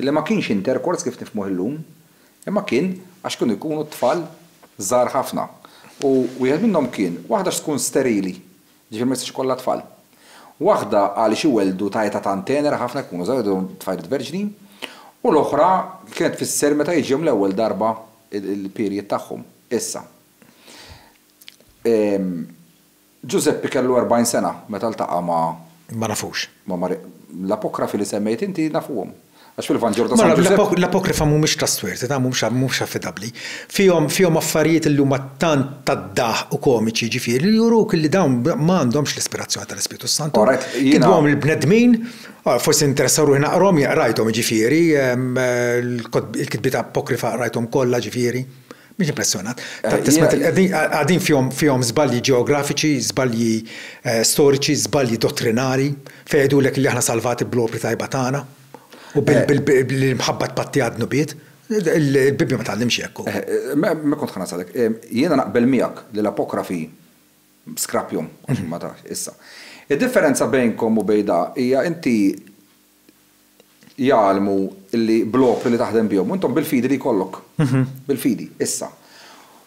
S1: Li ma kienx intercourse kif nifhmuh illum, Imma kien għax kienu jkunu tfal żgħar ħafna. U wieħed minnhom kien, waħda għax tkun sterili, jiġifieri ma jistax ikollha tfal. Waħda għaliex iwelldu ta' età tant tenera ħafna jekk ikunu żgħar jwelldu tfajliet verġni. U l-oħra kienet tfisser meta jiġihom l-ewwel darba il-period tagħhom. Issa. Ġużeppi kellu erbgħin sena meta ltaqa' ma'. Ma nafux. Ma' Mari. L-apokrifi li semmejt inti nafuhom. Għax fil-Vanġelu ta' San Ġużeppi. Ma, l-apokrifa m'humiex trustworthy, ta' m'humiex affidabbli. Fihom, fihom affarijiet illi huma tant tad-daħq u komiċi, jiġifieri, li juruk illi dawn ma għandhomx l-ispirazzjoni tal-Ispirtu s-Santu. Alright, jiena. Kitbuhom il-bnedmin, forsi ninteressa ruħi naqrahom, qrajthom jiġifieri, il-kitbiet apokrifa qrajthom kollha jiġifieri. Mhix impressjonat. Qegħdin fihom żbalji ġeografiċi, żbalji storiċi, żbalji dottrinari, fejn jgħidulek li aħna salvati bl-opri tajba tagħna u bil-mħabba tpattiha d-dnubiet. Il-Bibbja ma tgħallimx hekk. Ma kont ħa nasalek. Jiena naqbel miegħek li l-Apokrafi skrappjhom, għax ma tafx issa. Id-differenza bejnkom u bejn da hija inti jgħallmu li bl-opri li taħdem bihom, u intom bil-fidi li jkollok, bil-fidi, issa,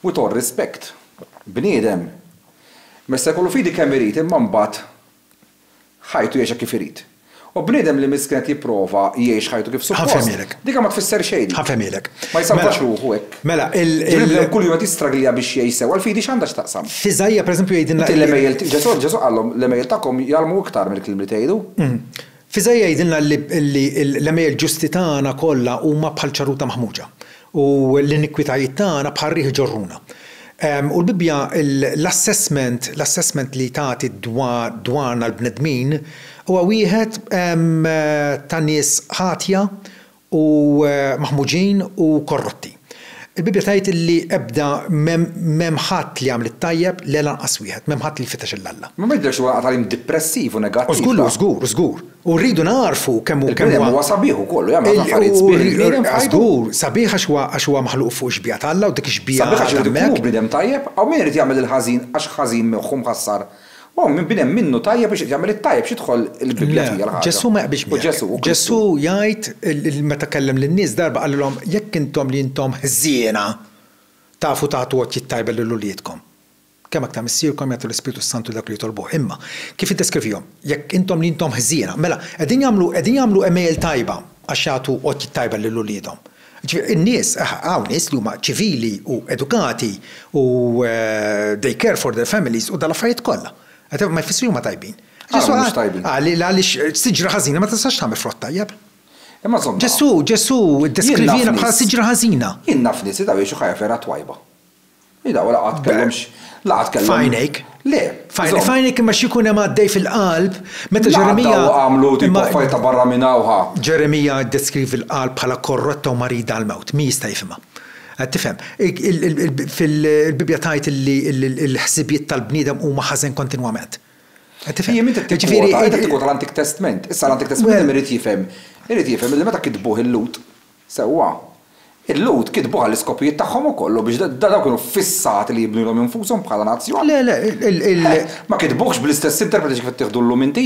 S1: with all respect, bniedem ma jista' jkollu fidi kemm irid imma mbagħad ħajtu jgħixha kif irid. U bniedem li miskin qed jipprova jgħix ħajtu kif suppost, dika ma tfisser xejn dik. Ma jsalvax ruħu hekk. Bniedem kuljum qed jistraglja biex jgħix sewwa, il-fidi x'għandha x'taqsam? F'Iżaija pereżempju jgħidilna. Inti l-għemejjel, Ġesù għalhom, l-għemejjel tagħkom jgħallmu iktar mill-kliem li tgħidu. F'iżaija jgħidilna li l-għemejjel ġusti tagħna kollha huma bħal ċarruta maħmuġa, u l-inikwitajiet tagħna bħal riħ iġorruna. U l-Bibbja, l-assessment, l-assessment li tagħti dwarna l-bnedmin, huwa wieħed ta' nies ħatja u maħmuġin u korrotti. Il-Bibbja tgħid li ebda m'hemm ħadd li jagħmel it-tajjeb, le lanqas wieħed, m'hemm ħadd li jfittex lil Alla. Ma jidhirx li huwa tagħlim dipressiv u negattiv. O żgur li hu, żgur, żgur. U rridu nagħrfu kemm hu kemm huwa. Il-bniedem huwa sabiħ ukoll u jagħmel ħafna affarijiet sbieħ il-bniedem f'ħajtu. Żgur, sabiħ għax huwa għax huwa maħluq fuq ix-xbieha ta' Alla u dik ix-xbieha għadha hemmhekk. Sabiħ għax irid ikun hu bniedem tajjeb, hawn min irid jagħmel il-ħażin għax ħażin moħħu mħassar Huwa minn bniem minnu tajjeb u jixtieq jagħmel it-tajjeb, x'idħol il-Bibbja fija l-ħaġa? Le, Ġesù ma jaqbilx miegħek. U Ġesù, u Kristu. Ġesù jgħid, meta kellem lin-nies darba qalilhom, jekk intom li intom ħżiena tafu tagħtu għotjiet t-tajba lil uliedkom, kemm aktar Missierkom jagħti l-Ispirtu s-Santu lil dawk li jitolbuh. Imma, kif iddeskrivihom? Jekk intom li intom ħżiena. Mela, qegħdin jagħmlu, qegħdin jagħmlu għemejjel tajba għax jagħtu għotjiet tajba lil uliedhom. Ġifieri in-nies, hawn nies li huma ċivili u edukati u they care for their families u dal-affarijiet kollha. Ma jfissru li huma tajbin. Ġesù qal li għaliex siġra ħażina ma tistax tagħmel frott tajjeb. Imma żomm. Ġesù, Ġesù ddeskrivina bħala siġra ħażina. Jien naf nies li daw jgħixu ħajja vera twajba. Hi daw la qatt kellhom x', la qatt kellhom. F'għajnejk. Le. F'għajnejk, f'għajnejk imma xi jkun hemm għaddej fil-qalb meta Ġeremija. La qatt daw għamlu tipo affarijiet ta' barra minn hawn ħa. Ġeremija ddeskrivi l-qalb bħala korrotta u marida għall-mewt. Min jista' jifhimha? Qed tifhem? Il-Bibbja tgħid illi l-ħsibijiet tal-bniedem huma ħażen kontinwament. Qed tifhem? Hi min qed tikkwota, qed tikkwota l-Antik Testment. Issa l-Antik Testment min irid jifhem? Irid jifhem illi meta kitbuh il-Lhud, Sewwa. Il-Lhud kitbu għall-iskopijiet tagħhom ukoll u biex dawn kienu ffissati li jibnu lilhom infushom bħala nazzjon. Le, le, il. Eh, ma kitbuhx bl-istess interpreti kif qed tieħdu llum inti?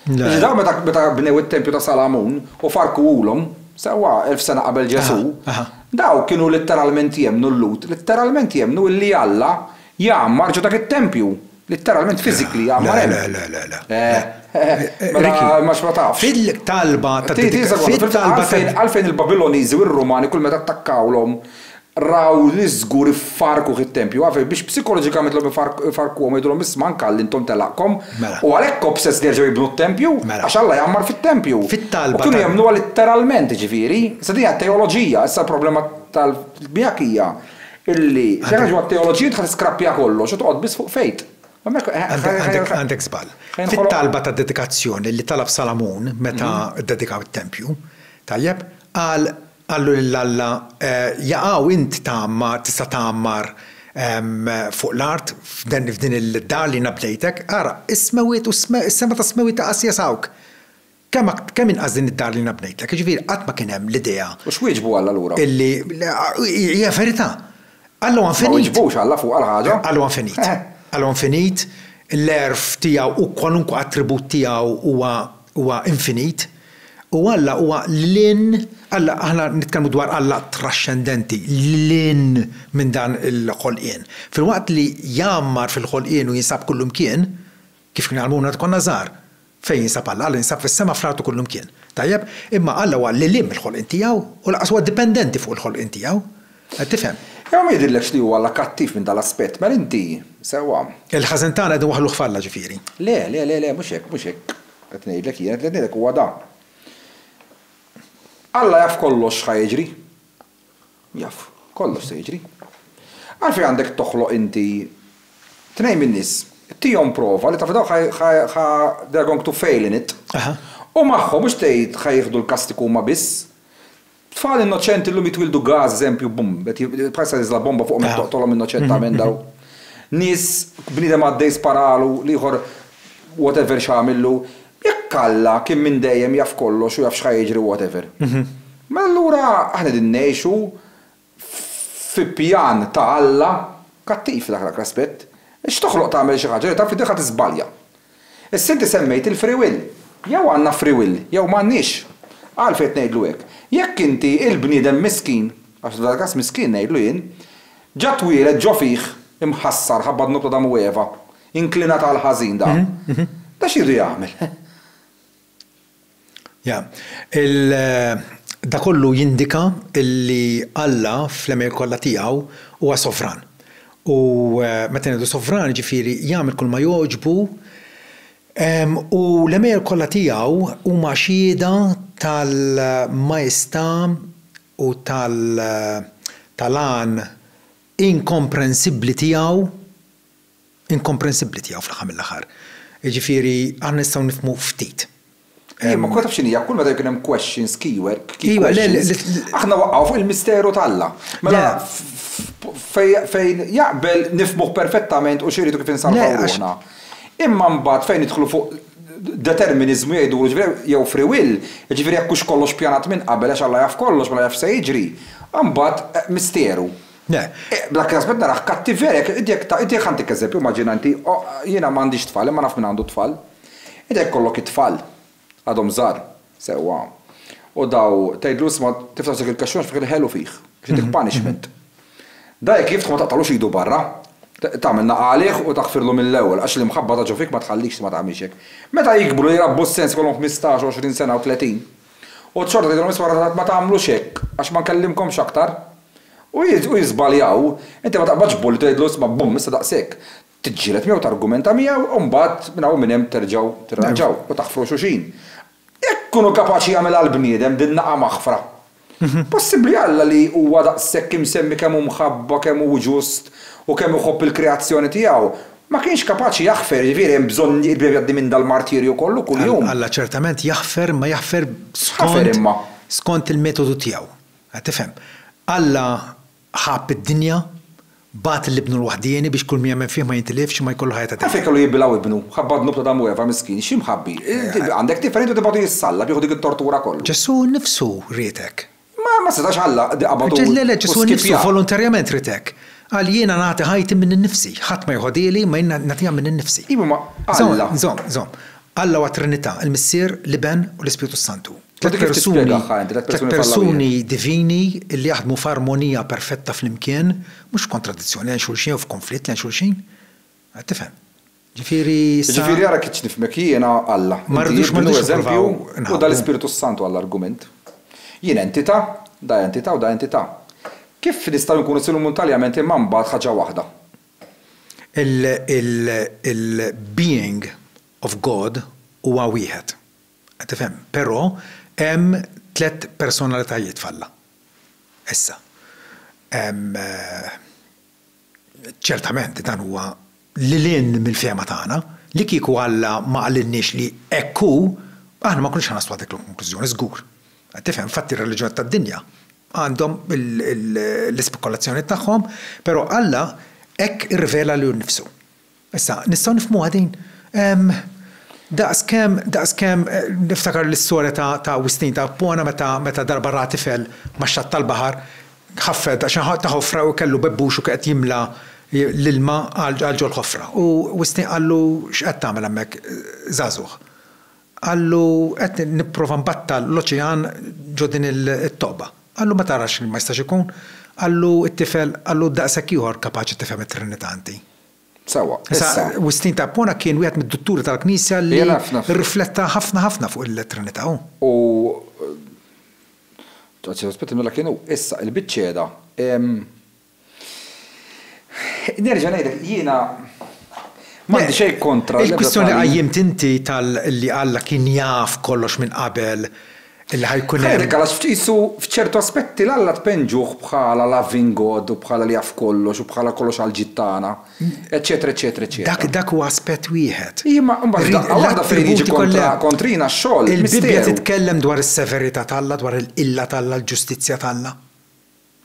S1: Le. Ġifieri dawn meta meta bnew it-tempju ta' Salamun u farrkuhulhom, sewwa, elf sena qabel Ġesù, dawn kienu litteralment jemmnu l-Lhud, litteralment jemmnu illi Alla jgħammar ġo dak it-tempju. Litteralment physically jgħammar hemm. Le, le, le, le. Eh, mela ma ma tafx. Fil-talba ta' fil-talba għalfejn il-Babiloniżi u r-Rumani kull meta attakkawlhom raw li żgur iffarku it-tempju, għalfejn biex psikoloġikament l-hom ifarkuhom jgħidulhom isma' anke għalli intom telaqkom. Mela. U għalhekk obsess li jerġgħu jibnu t-tempju, mela. għax Alla jgħammar fit-tempju. Fit-talba. Kienu jemmnuha litteralment, ġifieri. Issa din hija teoloġija, issa l-problema tal-bjak hija Illi xi ħaġa mat-teoloġija inti ħa tiskrappja kollox u toqgħod biss fuq faith. Għandek żball. Fit-talba ta' dedikazzjoni li talab Salamun meta ddedikaw it-tempju, tajjeb, qal qallu lil Alla, jaqaw int tgħammar, tista' tgħammar fuq l-art f'din id-dar li jiena bnejtek, ara, is-smewwiet u s-sema tas-smewwiet ta' qasjas hawnk. Kemm inqas din id-dar li jiena bnejtlek. Jiġifieri qatt ma kien hemm l-idea. U x'wieġbu Alla lura? Illi, hija l-verità. Alla huwa infinit. Ma wieġbux Alla fuq għal ħaġa. Alla huwa infinit. Alla huwa infinit, l-għerf tiegħu u kwalunkwe attribut tiegħu huwa huwa infinit. U Alla huwa lil hinn, Alla, aħna nitkellmu dwar Alla traxxendenti, lil hinn minn dan il-ħolqien. Filwaqt li jgħammar fil-ħolqien u jinsab kullimkien, Kif kien jgħallmuna meta konna żgħar, Fejn jinsab Alla? Alla jinsab fis-sema, fl-art u kullimkien. Tajjeb? Imma Alla huwa lil hinn mill-ħolqien tiegħu u lanqas huwa dipendenti fuq il-ħolqien tiegħu. Qed tifhem? Imma ma jidhirlekx li huwa Alla kattiv minn dan l-aspett, mela inti, sewwa. Il-ħażen tagħna qegħdin waħħluh f'Alla, ġifieri. Le, le, le, le, mhux hekk, mhux hekk qed ngħidlek jiena, dak li qed ngħidlek huwa dan. Alla jaf kollox x'ħa jiġri. Jaf, kollox se jiġri. Għalfejn għandek toħloq inti tnejn min-nies, tihom prova li taf li dawn ħa they're going to fail in it, u magħhom mhux tgħid ħa jieħdu l-kastigu huma biss. Tfal innoċenti llum jitwieldu gas eżempju bum, bħalissa tinżla bomba fuqhom qed toqtolhom innoċentament dawn. Nies, bniedem għaddej sparalu, l-ieħor whatever x'għamillu. Jekk Alla kien minn dejjem jaf kollox u jaf x'ħa jiġri whatever. Mela allura aħna qegħdin ngħixu fi pjan ta' Alla kattiv fi dak l-aspett. Biex toħloq tagħmel xi ħaġa li taf li diħa tiżbalja. Issa inti semmejt il-free will. Jew għandna free will jew m'għandniex. Għalfejn qed ngħidlu hekk? Jekk inti il-bniedem miskin, għax f'dan il-każ miskin ngħidlu jien, ġa twieled ġo fih imħassar ħabba dnub ta' Adam u Eva, inklinat għall-ħażin dak. Da x'iridu jagħmel? Dan kollu jindika li Alla fl-għemil kollha tiegħu huwa sovran. U meta ngħidu sovran jiġifieri jagħmel kull ma jogħġbu u l-għemil kollha tiegħu huma xhieda tal-majestà u tal-għan inkomprensibbli tiegħu. inkomprensibbli tiegħu fl-aħħar mill-aħħar. Jiġifieri aħna nistgħu nifhmu ftit. Jien ma taf x'inhi, kull meta jkun hemm questions, keyword, key questions, aħna waqgħu fuq il-misteru t'Alla. Mela fejn jaqbel nifhmuh perfettament u x'iridu kif insalvaw ruħna. Imma mbagħad fejn nidħlu fuq determiniżmu jgħidulu ġifieri jew free will, jiġifieri jekk hux kollox pjanat minn qabel għax Alla jaf kollox mela jaf x'se jiġri, imbagħad misteru. Le. Bla kjasbet narah kattiver jekk inti jekk ta, inti jekk ħantik eżempju, immaġina inti, o, jiena m'għandix tfal imma naf min għandu t-tfal. Inti jekk ikollok it-tfal, għadhom żgħar, sewwa, u daw tgħidlu isma' tiftaħ dik il-kaxxuna x'fih il-ħelu fih, biex intik punishment. Da jekk jiftħu ma taqtagħlux idu barra, tagħmel nagħalih u taghfirlu mill-ewwel għax l-imħabba ta' ġo fik ma tħallikx ma tagħmilx hekk. Meta jikbru jirabbu s-sens ikollhom ħmistax, għoxrin sena u tletin. U xorta tgħidilhom isma' rażżat ma tagħmlux hekk għax ma nkellimkomx aktar. U jiżbaljaw. Inti ma taqbadx bulli tgħidlu isma' bumm issa daqshekk. Tiġġieled miegħu targumenta miegħu u mbagħad minn hawn u minn hemm terġgħu tirranġaw u taħfru xulxin. Jekk ikunu kapaċi jagħmilha l-bniedem din nagħa maħfra. Possibbli Alla li huwa daqshekk imsemmi kemm hu mħabba kemm hu ġust u kemm iħobb il-kreazzjoni tiegħu Ma kienx kapaċi jaħfer, jiġifieri hemm bżonn biex jgħaddi minn dal-martirju kollu kuljum. Alla ċertament jaħfer, imma jaħfer skont skont il-metodu tiegħu. Qed tifhem? Alla ħabb id-dinja, bagħat l-Ibnu l-waħdieni biex kull min jemmen fih ma jintilifx imma jkollu ħajja ta' dejjem. Għalfejn kellu jibbilgħu Ibnu? Ħabba d-dnub ta' Adam u Eva miskin, x'imħabbi? Għandek tifel int u tibgħatu jissallab, jieħu dik it-tortura kollha. Ġesù nnifsu riedek. Imma ma setax Alla li qabad u Ġesù skippja. Ġesù nnifsu volontarjament ried hekk. Qal, Jiena nagħti ħajti minn innifsi. Ħadd ma jħodhieli, imma jien nagħtiha minn innifsi. Iva, imma Alla. Żomm, żomm. Alla huwa t-Trinità, il-Missier, l-Iben, u l-Ispirtu s-Santu. Tliet persuni, tliet persuni divini li jaħdmu f'armonija perfetta flimkien, mhux f'kontradizzjoni lejn xulxin jew f'konflitt lejn xulxin. Qed tifhem? Ġifieri issa. Ġifieri ara kif nifhmek jiena Alla. Ma rridux, ma rridux nippruvaw inħabbu. Inti Ibnu, Eżempju, u dal-Ispirtu s-Santu għall-argument. Jien entità, da entità u da entità. Kif nistgħu nkunu silumuntaljament imma mbagħad ħaġa waħda? Il-being of God huwa wieħed. Qed tifhem? Però hemm tliet personalitajiet f'Alla. Issa, hemm. Ċertament dan huwa lil hinn mill-fehma tagħna. Li kieku Alla ma qalilniex li hekk hu, aħna ma nkunux ħa naslu għal dik il-konklużjoni, żgur. Qed tifhem? Infatti r-reliġjoni tad-dinja għandhom l-ispekulazzjoni tagħhom, però Alla hekk irrivela lilu nnifsu. Issa, nistgħu nifhmuha din? Ehm, daqskemm, daqskemm, niftakar l-istorja ta', ta' Wistin, ta' Appuana meta, meta darba ra tifel ma' xatt tal-baħar, ħaffet għax kien ta' ħofra u kellu bebbux u kien qed jimla l-ilma għal, għal ġol-ħofra. U Wistin qallu, X'qed tagħmel hemmhekk, żagħżugħ? Qallu, Qed nipprova nbattal l-oċean ġo din it-toqba. Qallu, Ma tarax li ma jistax ikun? Qallu t-tifel, Qallu, Daqshekk ieħor kapaċi tifhem it-Trinità inti? Sewwa, issa. Wistin ta' Ippona kien wieħed mid-dutturi tal-Knisja li rrifletta ħafna ħafna fuq il-Trinità. U, anzi, aspetti, mela kien hu. Issa, il-biċċiegħda. Nerġa' ngħidlek, jiena m'għandi xejn kontra l-ebda tagħlim. Il-kwistjoni li qajjimt inti tal-li Alla kien jaf kollox minn qabel, li ħa jkun hemm. Ħa jgħidilk għalax f'qisu f'ċertu aspetti 'l Alla tpenġuh bħala loving God u bħala li jaf kollox u bħala kollox għal ġid tagħna, eċċetera eċċetera eċċetera. Dak dak hu aspett wieħed. Iva ma imbagħad f'daqqa waħda fejn jiġi kontra kontrina x-xogħol, misteru. Il-Bibbja titkellem dwar is-severità t'Alla, dwar il-qilla t'Alla, l-ġustizzja t'Alla.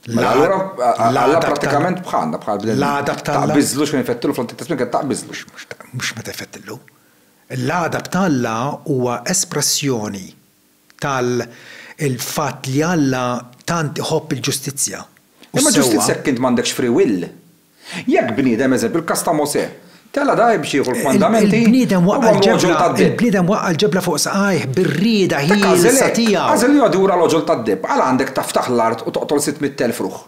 S1: Allura, Alla prattikament bħalna, bħal bnedmin. L-għadab t'Alla. Taqbiżlu x'kien ifettillu fl-antik testment kien taqbiżlu. Mhux meta jfettillu. L-għadab t'Alla huwa espressjoni tal il-fatt li Alla tant iħobb il-ġustizzja. Imma ġustizzja jekk int m'għandekx free will. Jekk bniedem, eżempju, il-każ ta' Mosè, tela' dgħajr biex jieħu l-kmandamenti, huwa l-għoġol tad-deheb. Il-bniedem waqqa' l-ġebla fuq saqajh bir-rieda ħielsa tiegħu. Agħżel li jgħodd wara l-għoġol tad-deheb. Għala għandek taftaħ l-art u toqtol sitt mitt elf ruħ?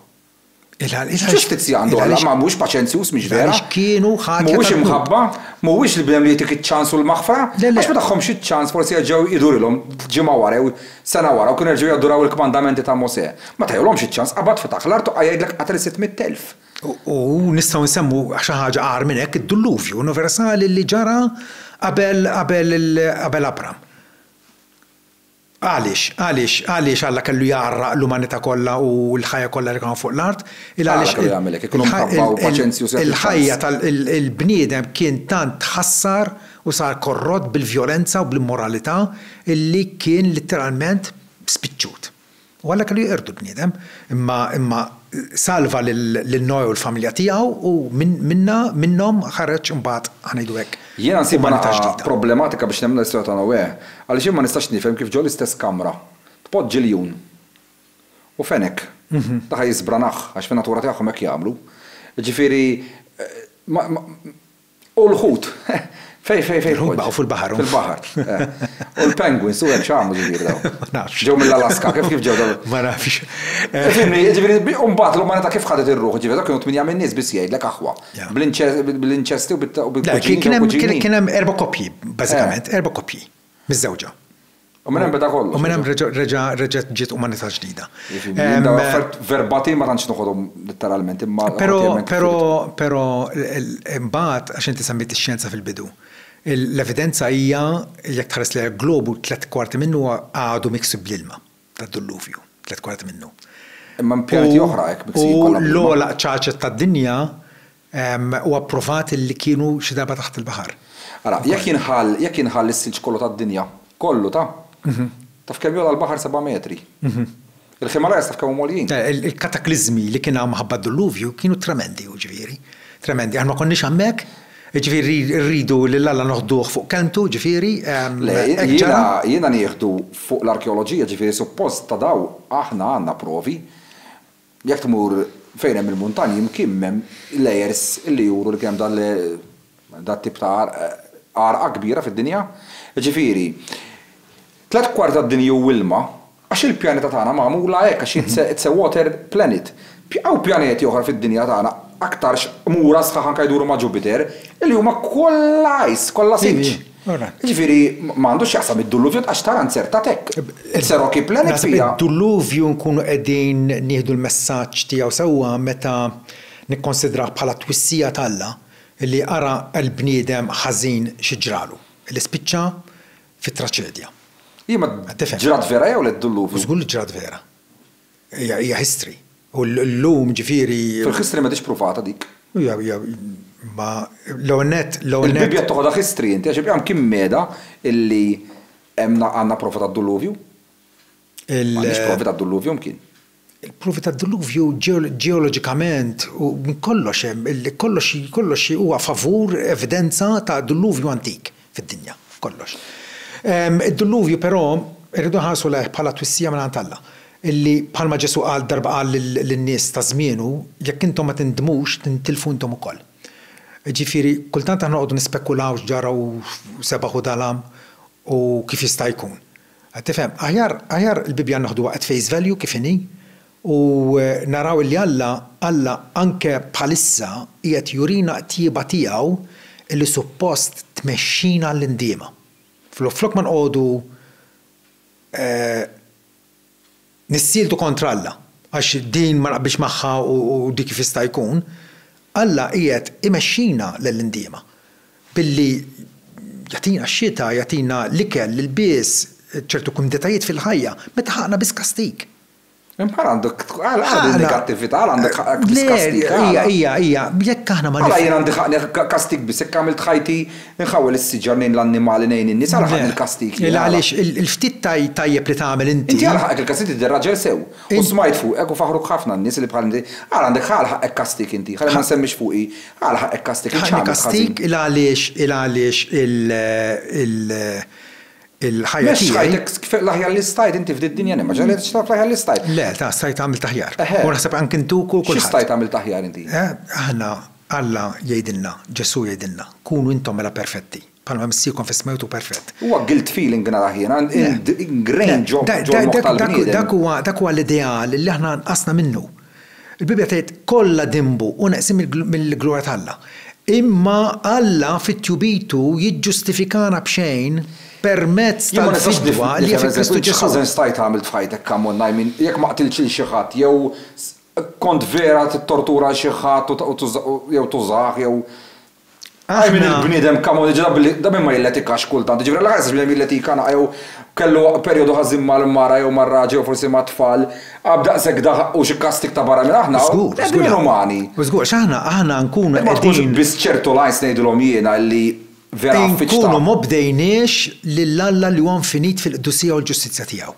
S1: X'ġustizzja għandu Alla? Ma mhuwiex paċenzjuż, mhix vera? Mhuwiex imħabba? Mhuwiex l-bniedem li jagħtik iċ-ċans u l-maħfra? Għax ma tagħhomx iċ-ċans forsi jerġgħu jdurilhom ġimgħa wara jew sena wara u kienu jerġgħu jaduraw il-kmandamenti ta' Mosè. Ma tajulhomx iċ-ċans. Qabad fetaħ l-art u qal' jgħidlek qatel is-sitt mitt elf. U nistgħu nsemmu xi ħaġa agħar minn hekk, id-Dilluvju universali li ġara qabel qabel qabel Abram. Għaliex? Għaliex għaliex Alla kellu jgħarraq l-umanità kollha u l-ħajja kollha li kien hawn fuq l-art? Għaliex kellu jagħmel hekk? Ikunu mħabba u paċenzji u sacrifice. Il-ħajja tal-bniedem kien tant tħassar u sar korrott bil-vjolenza u bl-immoralità illi kien litteralment spiċċut. Hu Alla kellu jeqirdu l-bniedem, imma imma salva lil lil Noè u l-familja tiegħu u minn minnha minnhom ħareġ imbagħad ħa ngħidu hekk Jiena nsibha umanità naqra ġdida. problematika biex nemmen l-istorja ta' Noè, għaliex jien ma nistax nifhem kif ġol-istess kamra tpoġġi ljun u fenek. Dak ħa jiżbranah, għax fin-natura tagħhom hekk jagħmlu. Jiġifieri ma ma U l-ħut? Fejn, fejn, fejn. Il-ħut baqgħu fil-baħar. Fil-baħar. U l-penguins, u hekk x'għamlu ġifieri dawn? Ma nafx. Ġew mill-Alaska, kif kif ġew dawn? Ma nafx. Fimni, ġifieri, u mbagħad l-umanità kif ħadet ir-ruħ? Ġifieri dawk kienu tmienja min-nies biss jgħidlek aħwa. Bl-inċesti u bil-kuġini. Kien hemm erba' koppji, bażikament, erba' koppji. miżżewġa. U minn hemm beda kollox. U minn hemm reġa' reġgħet ġiet umanità ġdida. Dawn l-affarijiet verbatim ma tantx noħodhom litteralment imma. Però però però imbagħad għax inti semmejt ix-xjenza fil-bidu. L-evidenza hija jekk tħares lejha l-globu tliet kwarti minnu għadu miksub bl-ilma tad-dulluvju, tliet kwarti minnu. Imma hemm pjaneti oħra hekk miksin kollha bl-ilma. U l-ogħla qċaċet tad-dinja u approvat li kienu xi darba taħt il-baħar. Ara, jekk jinħall, jekk jinħall is-silġ kollu tad-dinja, kollu ta', taf kemm jogħla l-baħar seba' metri? Il-Himalayas taf kemm huma għoljin? Il-katakliżmi li kien hawn minħabba d-dilluvju kienu tremendi, hu ġifieri, tremendi. Aħna ma konniex hemmhekk, jiġifieri rridu lil Alla noħduh fuq kelmtu, ġifieri, hekk ġara. Le, jiena, jiena nieħdu fuq l-arkeoloġija, ġifieri suppost ta' dawn aħna għandna provi. Jekk tmur fejn hemm il-muntanji mkien m'hemm layers li juru li kien hemm dat-tip ta' għarqa kbira fid-dinja. Jiġifieri, tliet kwart tad-dinja hu ilma għax il-pjaneta tagħna magħmula hekk għax it's a water planet. Hawn pjaneti oħra fid-dinja tagħna aktarx qmura sħaħ anke jduru ma' Jupiter li huma kollha ice, kollha silġ. Jiġifieri ma għandu x'jaqsam id-duluvju tqax tara nzertat hekk. It's a rocky planet fiha. Naħseb li d-duluvju nkunu qegħdin nieħdu l-messaġġ tiegħu sewwa meta nikkonsidrawh bħala twissija t'Alla li ara l-bniedem ħażin xi ġralu, li spiċċa fi traċedja. Imma ġrat vera jew le d-duluvju? Żgur li ġrat vera. Hija hija history. U llum ġifieri. Fil-history m'għadhiex pruvata dik. Hija hija imma l-ewwel nett l-ewwel nett. Il-Bibbja qed toħodha history inti għax il-Qur'an kien meda illi hemm għandna prova tad-Duluvju? Il. M'għandniex provi tad-Duluvju mkien. Il-provi tad-Duluvju ġeoloġikament u minn kollox hemm kollox kollox huwa favur evidenza ta' Duluvju antik. fid-dinja, f'kollox. Id-Dilluvju però rridu nħarsu lejh bħala twissija mingħand Alla, illi bħalma Ġesù qal darba qal lin-nies ta' żmienu, jekk intom ma tindmux, tintilfu intom ukoll. Ġifieri, kultant aħna noqogħdu nispekulaw x'ġara u sebaħ u dalam u kif jista' jkun. Qed tifhem? Aħjar, aħjar il-Bibbja naħduha at face value kif inhi, U naraw illi Alla, Alla anke bħalissa qiegħed jurina t-tjieba tiegħu illi suppost tmexxina għall-indiema. Flok ma nqogħdu nissieltu kontra Alla, għax din ma naqbilx magħha u dik kif jista' jkun, Alla qiegħed imexxina lejn l-indiema billi jagħtina x-xita, jagħtina l-ikel, l-ilbies, ċertu kumditajiet fil-ħajja, meta ħaqqna biss kastig. Imma għal għandek għal għal il-negattività, għal għandek ħaqek biskastika. Ija, ija, ija, jekk aħna ma nifhmux. Għala jien għandi ħaqni kastik biss, jekk għamilt ħajti nħawel is-siġar nejn l-annimali nejn in-nies, għala ħaqni l-kastik. Illa għaliex il-ftit tajjeb li tagħmel inti. Inti għala ħaqek il-kastik tidher raġel sew. U smajt fuqek u faħruk ħafna n-nies li bħal inti. Għala għandek għala ħaqek kastik inti, ħalli ma nsemmix fuqi. Għala ħaqek kastik. Ħaqni kastik illa għaliex illa għaliex il-ħajja tiegħi. Mhux stajt, l-aħjar li stajt inti f'din id-dinja li ma ġralitx tagħmel l-aħjar li stajt. Le, ta' stajt għamilt aħjar. U naħseb anke inti u kulħadd. Xi stajt għamilt aħjar inti? Aħna, Alla jgħidilna, Ġesù jgħidilna, kunu intom mela perfetti, bħalma Missierkom fis-sma hu perfett. Huwa guilt feeling nara jien, ingrained ġo l-moħħ tal-bniedem. Dak huwa l-ideal li aħna nqasna minnu. Il-Bibbja tgħid, Kollha dinbu u neqsin mill-glorja t'Alla. Imma Alla fit-tjubitu jiġġustifikana b'xejn permezz tal-fidwa li hi fi Kristu Ġesù. X'ħażen stajt għamilt f'ħajtek, come on, I mean, jekk ma qtiltx lil xi ħadd jew kont vera tittortura lil xi ħadd u jew tużah jew Hi min il-bniedem come on, jiġifieri da min ma jilletikax kultant, jiġifieri allura ħares bniedem jilletika naqra jew kellu perjodu ħażin mal-mara jew mar-raġel jew forsi mat-tfal, għab daqshekk da ħaqqu xi kastig ta' barra minn aħna, bnedmin inumani. Żgur, għax aħna, aħna nkunu qegħdin. Imma tkunx biss ċertu lines ngħidilhom jiena illi vera affiċta. Inkunu m'obdejniex lil Alla li huwa infinit fil-qdusija u l-ġustizzja tiegħu.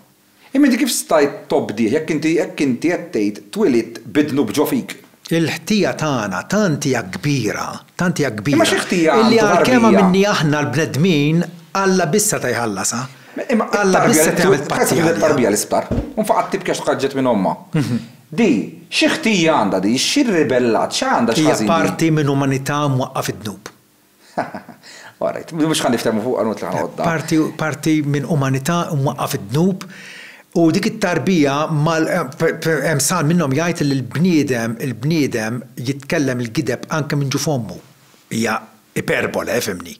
S1: Imma inti kif stajt tobdih jekk inti hekk inti qed tgħid twilidt bi dnub ġo fik? Il-ħtija tagħna tant hija kbira, tant hija Imma kbira, xi ħtija illi għandu għalkemm tarbija? għamilni aħna l-bnedmin, Alla biss seta' jħallasha. Imma Alla biss it-tarbija, seta' jagħmel tħasseb li paċi għaliha. t-tarbija li sptar u nfaqgħet tibki għax tħaġġet minn ommha, di xi ħtija għandha di, xi rribellat, x'għandha, Hija x'ħażin di? parti minn umanità mwaqqgħa fid-dnub. All right. Mhux ħa niftehmu fuqha nut li ħa noqgħod Parti, parti minn umanità mwaqqaf id-dnub u dik it-tarbija mal hemm sal minnhom jgħid li l-bniedem, il-bniedem jitkellem il-gideb anke minn ġuf ommu. Hija iperbole, ifhimni.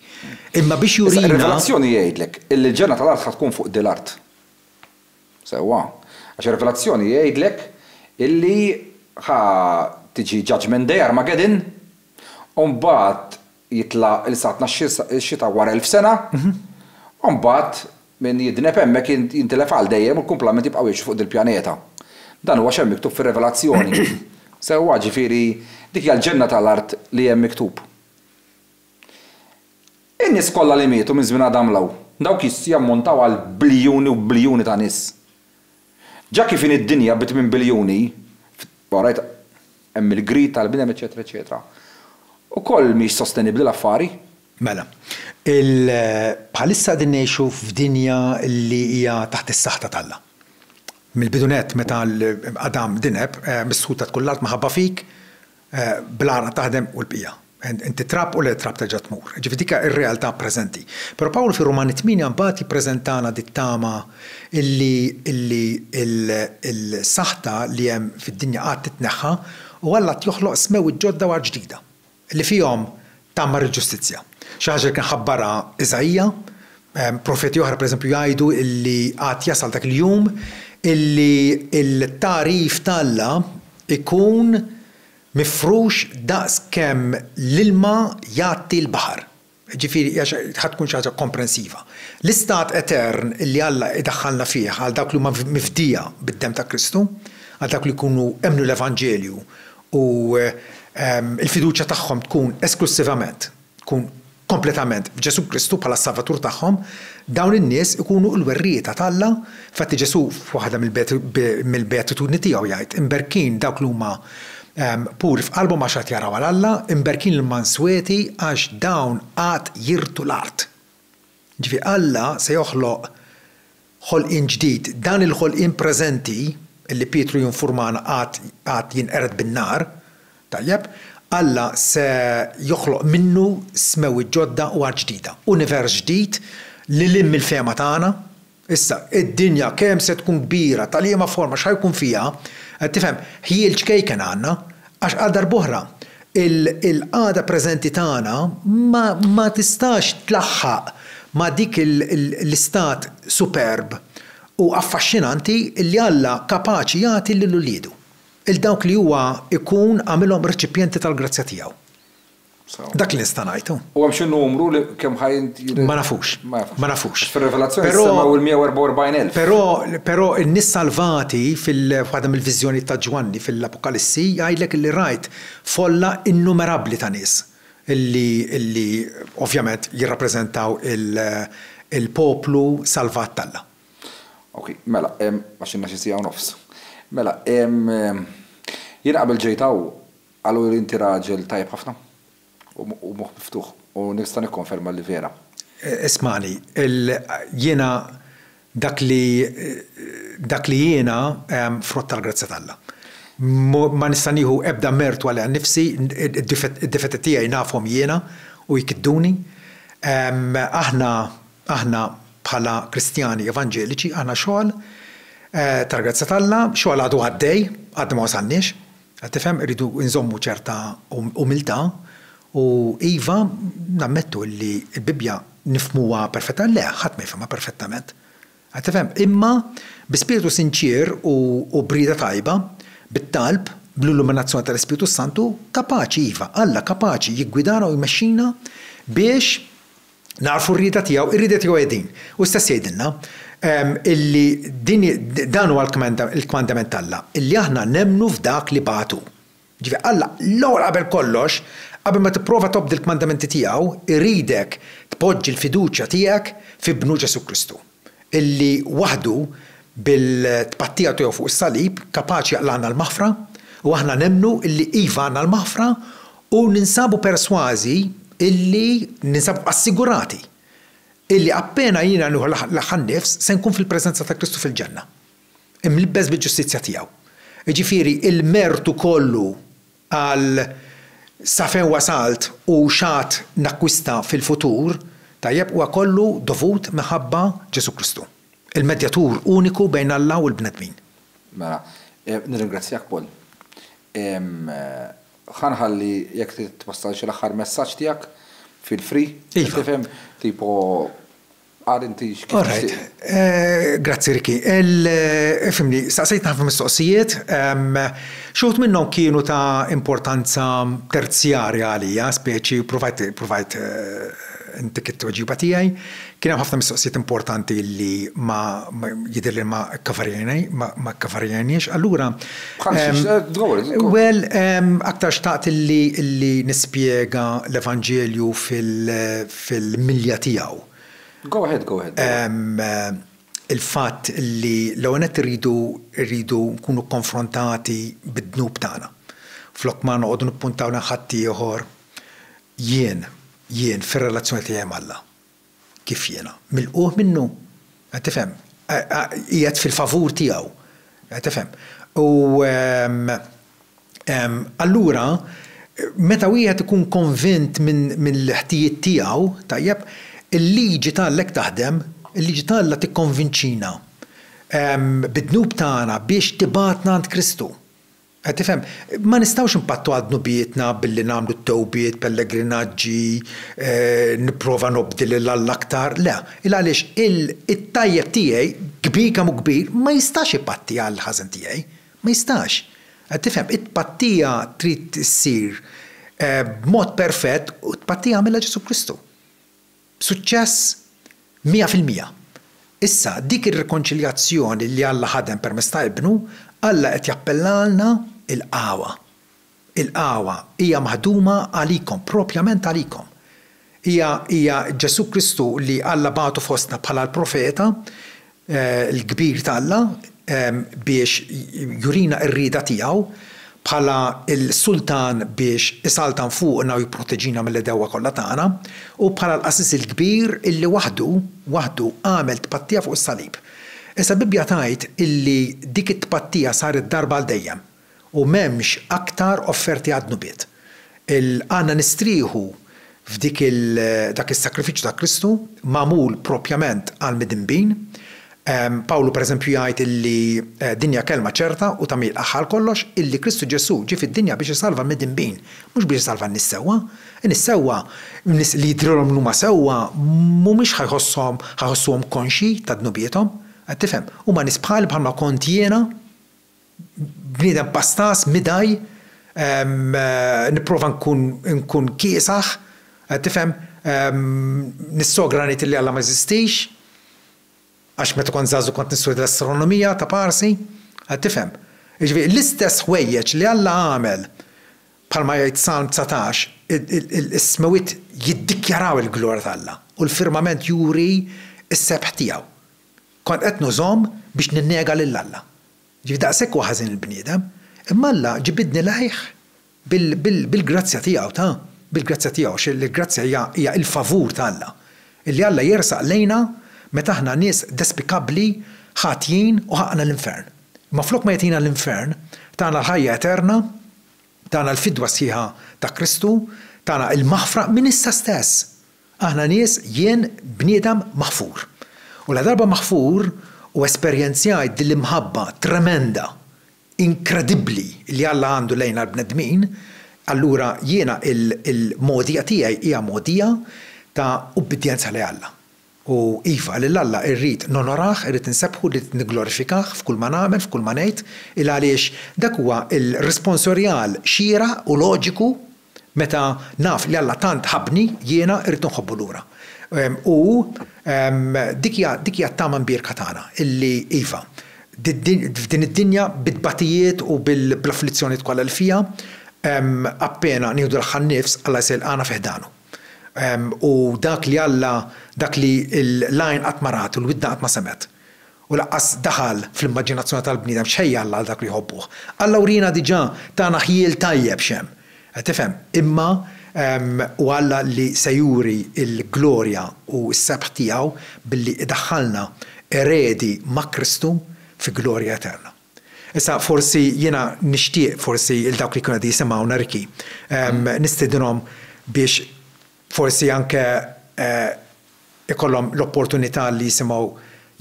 S1: Imma biex jurina. Ir-Rivelazzjoni jgħidlek illi l-ġenna tal-art ħa tkun fuq dil-art. Sewwa. Għax ir-Rivelazzjoni jgħidlek illi ħa tiġi judgment day, Armageddon, U mbagħad jitla' il-saltna x-xita wara elf sena, u mbagħad min jidneb hemmhekk jintilef għal dejjem u l-kumplament jibqgħu jgħixu fuq dil-pjaneta. Dan huwa x'hemm miktub fir-Revelazzjoni. Sewwa, ġifieri, dik hija l-ġenna ta' l-art li hemm miktub. In-nies kollha li mietu minn żmien Adam 'l hawn, dawk jammontaw għal biljuni u biljuni ta' nies. Ġa kif inhi d-dinja bi tmien biljuni, orajt hemm il-greed tal-bniedem eċċetera eċċetera. Ukoll mhix sostenibbli l-affari. Mela, il, bħalissa qegħdin ngħixu f'dinja li hija taħt is-saħta t'Alla. Mill-bidu nett meta l, Adam dineb, missħuta tkun l-art minħabba fik, bl-għaraq taħdem u l-bqija. Inti trab u l-trab terġa' tmur. Jiġifieri dik hija r-realtà preżenti. Però Pawlu fir-Rumani tmienja mbagħad jippreżentana dit-tama illi illi l-saħta li hemm fid-dinja qatt titneħħa u Alla qed joħloq smewwiet ġodda u art ġdida li fihom tgħammar il-ġustizzja. Xi ħaġa li kien ħabbarha Iżaija. Profeti oħra, pereżempju, jgħidu li għad jasal dak il-jum illi l-tagħrif ta' Alla jkun mifrux daqs kemm l-ilma jgħatti l-baħar. Jiġifieri hija xi ħa tkun xi ħaġa komprensiva. L-istat etern li Alla jdaħħalna fih għal dawk li huma mifdija bid-demm ta' Kristu, għal dawk li jkunu emmnu l-evanġelju u l-fiduċja tagħhom tkun esklussivament, tkun kompletament f'Ġesù Kristu bħala s-Salvatur tagħhom, dawn in-nies ikunu l-werrieta t'Alla. Infatti Ġesù f'waħda mill-beatitudni tiegħu jgħid, Imberkin dawk li huma puri f'qalbhom għax għad jaraw għal Alla, imberkin l-mansweti għax dawn għad jirtu l-art. Jiġifieri Alla se joħloq ħolqien ġdid, dan il-ħolqien preżenti, li Pietru jinfurmana għad għad jinqered bin-nar, tajjeb, Alla se joħloq minnu smewwiet ġodda u art ġdida, univers ġdid lil hinn mill-fehma tagħna, Issa, id-dinja kemm se tkun kbira, ta' liema forma, x'ħa jkun fiha, qed tifhem, ħjiel ċkejken għandna, għax għal darb'oħra, il-qagħda preżenti tagħna ma tistax tlaħħaq ma' dik l-istat superb u affaxxinanti li Alla kapaċi jagħti lil uliedu, 'l dawk li huwa jkun għamilhom reċipjenti tal-grazzja tiegħu. Dak li nista' ngħid hu. U hemm xi numru li kemm ħa jintgħid? Ma nafux. Ma nafux. Fir-Revelazzjoni jissemmew il-144,000. Però, però in-nies salvati fil-waħda mill-viżjonijiet ta' Ġwanni fil-Apokalissi jgħidlek li rajt folla innumerabbli ta' nies li, li ovvjament jirrappreżentaw il-poplu salvat t'Alla. Okej, mela, għax ilna xi siegħa u nofs. Mela, jiena qabel ġejt hawn Qaluli inti raġel tajjeb ħafna u moħħ miftuħ u nista' nikkonferma li vera. Ismagħni, jiena dak li dak li jiena frott tal-grazzja t'Alla. Ma nista' nieħu ebda mertu għaliha nnifsi, id-difetti tiegħi nafhom jiena u jkidduni. Aħna aħna bħala Kristjani Evanġeliċi aħna xogħol tal-grazzja t'Alla, xogħol għadu għaddej, għadna ma wasalniex. Qed tifhem, irridu nżommu ċerta umiltà u iva, nammettu illi l-Bibbja nifhmuha perfettament, le, ħadd ma jifhimha perfettament. Qed tifhem? Imma bi spirtu sinċier u b'rieda tajba, bit-talb, bl-illuminazzjoni tal-Ispirtu s-Santu, kapaċi, iva, Alla kapaċi jiggwidana u jmexxina biex Nagħrfu r-rieda tiegħu, ir-rieda tiegħu hi din. Hu stess jgħidilna illi din dan huwa l-kmandament t'Alla, illi aħna nemmnu f'dak li bagħat hu. Ġifieri Alla l-ewwel qabel kollox, qabel ma tipprova tobdi l-kmandamenti tiegħu, iridek tpoġġi l-fiduċja tiegħek f'Ibnu Ġesù Kristu. illi waħdu bil-tpattija tiegħu fuq is-salib kapaċi jaqlagħna l-maħfra u aħna nemmnu illi iva għandna l-maħfra u ninsabu persważi illi, ninsabu assigurati illi appena jiena nieħu l-aħħar għan-nifs se nkun fil-preżenza ta' Kristu fil-Ġenna, imlibbes bil-ġustizzja tiegħu. Jiġifieri l-mertu kollu Qal, Sa fejn wasalt u x'għad nakkwista fil-futur, tajjeb, huwa kollu dovut minħabba Ġesù Kristu, il-medjatur uniku bejn Alla u l-bnedmin. Mela, nirringrazzjak Paul. Ħa nħalli jekk trid twassal xi l-aħħar messaġġ tiegħek, feel free, qed tifhem, tipo Ara inti x'kif tixtieq. Orajt. Grazzi Ricky. Ifhimni, staqsejtni ħafna mistoqsijiet. Xi wħud minnhom kienu ta' importanza terzjarja għalija, speċi, ppruvajt, ppruvajt intik it-tweġiba tiegħi. Kien hemm ħafna mistoqsijiet importanti li ma, jidher li ma kkavarjajni, ma kkavarjajniex. Allura. Bħal xiex? Go ahead. Well, aktar xtaqt li nispjega l-Evanġelju fil, fil-milja tiegħu. Go ahead, go ahead, Dewwa. Il-fatt li l-ewwel nett irridu, irridu nkunu konfrontati bid-dnub tagħna. Flok ma noqogħdu nippuntaw lejn ħaddieħor, jien, jien fir-relazzjoni tiegħi m'Alla, kif jiena? Milqugħ minnu? Qed tifhem? Qiegħed fil-favur tiegħu? Qed tifhem? U. Allura, meta wieħed ikun konvint mill-ħtijiet tiegħu, tajjeb, il-liġi ta' Alla hekk taħdem, il-liġi ta' Alla tikkonvinċina bid-dnub tagħna biex tibgħatna għand Kristu. Qed tifhem? Ma nistgħux inpattu għal dnubietna billi nagħmlu t-tewbiet, pellegrinaġġi, nipprova nobdi lil Alla aktar, le. Il għaliex it-tajjeb tiegħi, kbir kemm hu kbir, ma jistax ipatti għall-ħażen tiegħi. Ma jistax. Qed tifhem? It-tpattija trid issir b'mod perfett u t-tpattija għamilha Ġesù Kristu. B'suċċess mija fil-mija. Issa, dik ir-rikonċiljazzjoni li Alla ħadem permezz ta' Ibnu, Alla qed jappellalna, Ilqgħuha. Il-qawwa hija maħduma għalikom, propjament għalikom. Hija, hija Ġesù Kristu li Alla bagħtu fostna bħala l-Profeta l-kbir t'Alla biex jurina r-rieda tiegħu, bħala l-Sultan biex isaltan fuqna u jipproteġina mill-għedewwa kollha tagħna, u bħala l-Qassis il-Kbir illi waħdu, waħdu għamel tpattija fuq is-salib. Issa l-Bibbja tgħid illi dik it-tpattija saret darba għal dejjem. u m'hemmx aktar offerti għad-dnubiet. Il Għandna nistrieħu f'dik il dak is-sakrifiċċju ta' Kristu magħmul proprjament għall-midinbin. Pawlu pereżempju jgħid illi din hija kelma ċerta u tagħmir aħħa għal kollox, illi Kristu Ġesù ġie fid-dinja biex isalva l-midinbin, mhux biex isalva n-nies sewwa. In-nies sewwa, nies li jidhrilhom li huma sewwa, mhumiex ħa jħosshom ħa jħossuhom konxji ta' dnubiethom. Qed tifhem? Huma nies bħali bħalma kont jiena bniedem pastas, midgħi, nipprova nkun nkun kiesaħ, tifhem, nissogra ngħid li Alla ma jeżistix, għax meta kont żagħżugħ kont nistudja l-astronomija ta' parsi, qed tifhem. Jiġifieri l-istess ħwejjeġ li Alla għamel, bħalma jgħid Salm dsatax, is-smewwiet jiddikjaraw il-glorja t'Alla u l-firmament juri s-sebħ tiegħu. Kont qed nużhom biex ninnega lil Alla. Ġifieri daqshekk huwa ħażin il-bniedem. Imma Alla ġibidni lejh bil-grazzja tiegħu, ta, bil-grazzja tiegħu, għax il-grazzja hija hija il-favur ta' Alla. Illi Alla jersaq lejna meta aħna nies despikabbli, ħatjin u ħaqqna l-infern. Imma flok ma jagħtina l-infern, tana l-ħajja eterna, tana l-fidwa sħiħa ta' Kristu, tana il-maħfra minn issa stess. Aħna nies, jien bniedem maħfur. U ladarba maħfur u esperjenzjajt din l-imħabba tremenda, inkredibbli li Alla għandu lejna l-bnedmin, allura jiena l-mogħdija tiegħi hija mogħdija ta' ubbidjenza lejn Alla. U iva, lil Alla irrid nonorah, irrid insebbħu, irrid nigglorifikah f'kull ma nagħmel, f'kull ma ngħid, il għaliex dak huwa l-responsorial xieraq u loġiku Meta naf li Alla tant ħabbni, jiena rrid inħobbu lura. U dik hija t-tama mbierka tagħna, illi, iva, f'din id-dinja bit-tbatijiet u bl-afflizzjonijiet kollha li fiha, appena nieħdu l-aħħar nifs, Alla jista' jilqagħna fi ħdanu. U dak li Alla, dak li l-għajn qatt ma rat u l-widna qatt ma semgħet, u lanqas daħal fl-immaġinazzjoni tal-bniedem x'ħejja Alla għal dak li jħobbuh. Alla wriena diġà, tana ħjiel tajjeb x'hemm. Qed tifhem? Imma hu Alla li se juri l-glorja u s-sebħ tiegħu billi jdaħħalna eredi ma' Kristu fi glorja eterna. Issa forsi jiena nixtieq forsi 'l dawk li jkunu qegħdin jisimgħuna Ricky nistiedinhom biex Forsi anke jkollhom l-opportunità li jisimgħu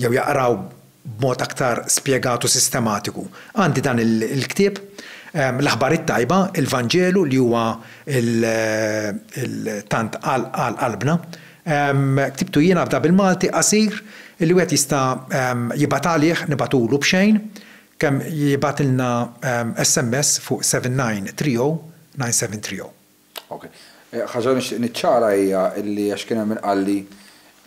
S1: jew jaqraw b'mod aktar spjegat u sistematiku. Għandi dan il-ktieb, L-Aħbar it-Tajba, il-Vanġelu li huwa tant għal qalbna. Ktibtu jiena f'da bil-Malti qasir li wieħed jista' jibgħat għalih, nibgħatulu b'xejn, kemm jibgħatilna SMS fuq 7930 9730. Ok. Ħaġa li nixtieq niċċara hija li għax kien hemm min qalli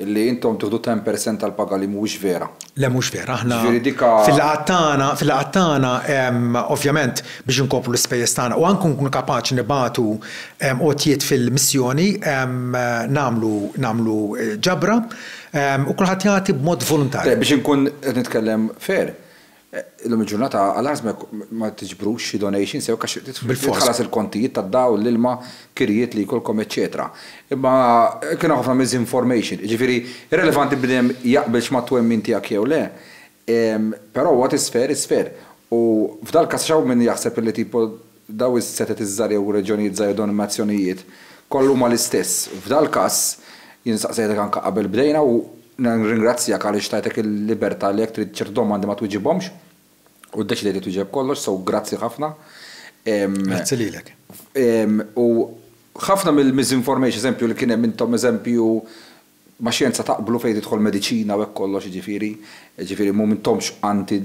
S1: li intom tieħdu ten per cent tal-paga li mhuwiex vera. Le mhux vera, aħna fil-laqgħat tagħna, fil-laqgħat tagħna ovvjament biex inkopru l-ispejjeż tagħna u anke nkunu kapaċi nibagħtu għotjiet fil-missjoni nagħmlu nagħmlu ġabra u kulħadd jagħti b'mod voluntarju. Le biex inkun qed nitkellem fair, Illum il-ġurnata għall-ħażna jekk ma tiġbrux xi donations jew hekk għax trid tħallas il-kontijiet tad-dawl, l-ilma, kirjiet li jkollkom eċċetera. Imma kien hawn ħafna misinformation. Jiġifieri irrelevanti bniedem jaqbilx mat-twemmin tiegħek jew le, però what is fair is fair. U f'dal-każ għax hawn min jaħseb li tipo Dawn is-setgħet iż-żgħar jew reġjonijiet żgħar jew denominazzjonijiet kollha huma l-istess. F'dal-każ, jien staqsejtek anke qabel bdejna u nirringrazzjak għaliex tajtek il-libertà li jekk trid ċerti domandi ma twiġibhomx u ddeċidejt li twieġeb kollox, so grazzi ħafna. Grazzi lilek. U ħafna mill-misinformation, eżempju li kien hemm intom eżempju ma' xjenza taqblu fejn tidħol mediċina u hekk kollox jiġifieri, jiġifieri m'intomx anti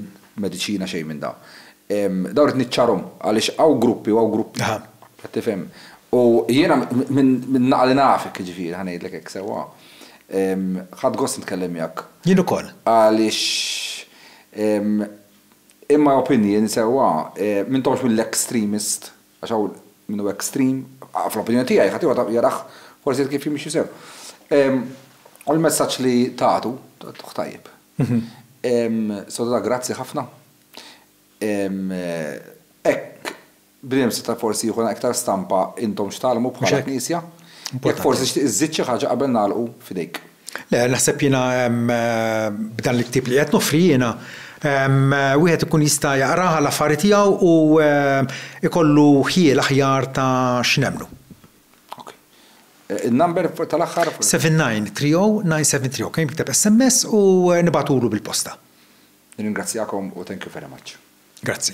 S1: mediċina xejn minn da. Dawn rrid niċċarhom għaliex hawn gruppi u hawn gruppi. Qed tifhem? U jiena minn naqa' li nafek jiġifieri ħa ngħidlek hekk sewwa, ħadt gost nitkellem miegħek. Jien ukoll. Għaliex in my opinion sewwa, m'intomx mill-extremist. Għax hawn min hu extreme, fl-opinjoni tiegħi, ħadd ieħor jarah forsi kif jimxi sew. U l-messaġġ li tagħtu, tagħtuh tajjeb. Soda grazzi ħafna. Hekk bnedem seta' forsi jieħu iktar stampa intom x'tgħallmu bħala Knisja. Jekk forsi tixtieq iżżid xi ħaġa qabel nagħlqu, f'idejk. Le, naħseb jiena b'dan il-ktieb li qiegħed noffri jiena, wieħed ikun jista' jaqrah għall-affari tiegħu u jkollu ħjiel aħjar ta' x'nemmnu. Okej. In-number tal-aħħar? 79309730. Okej, nikteb SMS u nibagħtulu bil-posta. Nirringrazzjakom u thank you very much. Grazzi.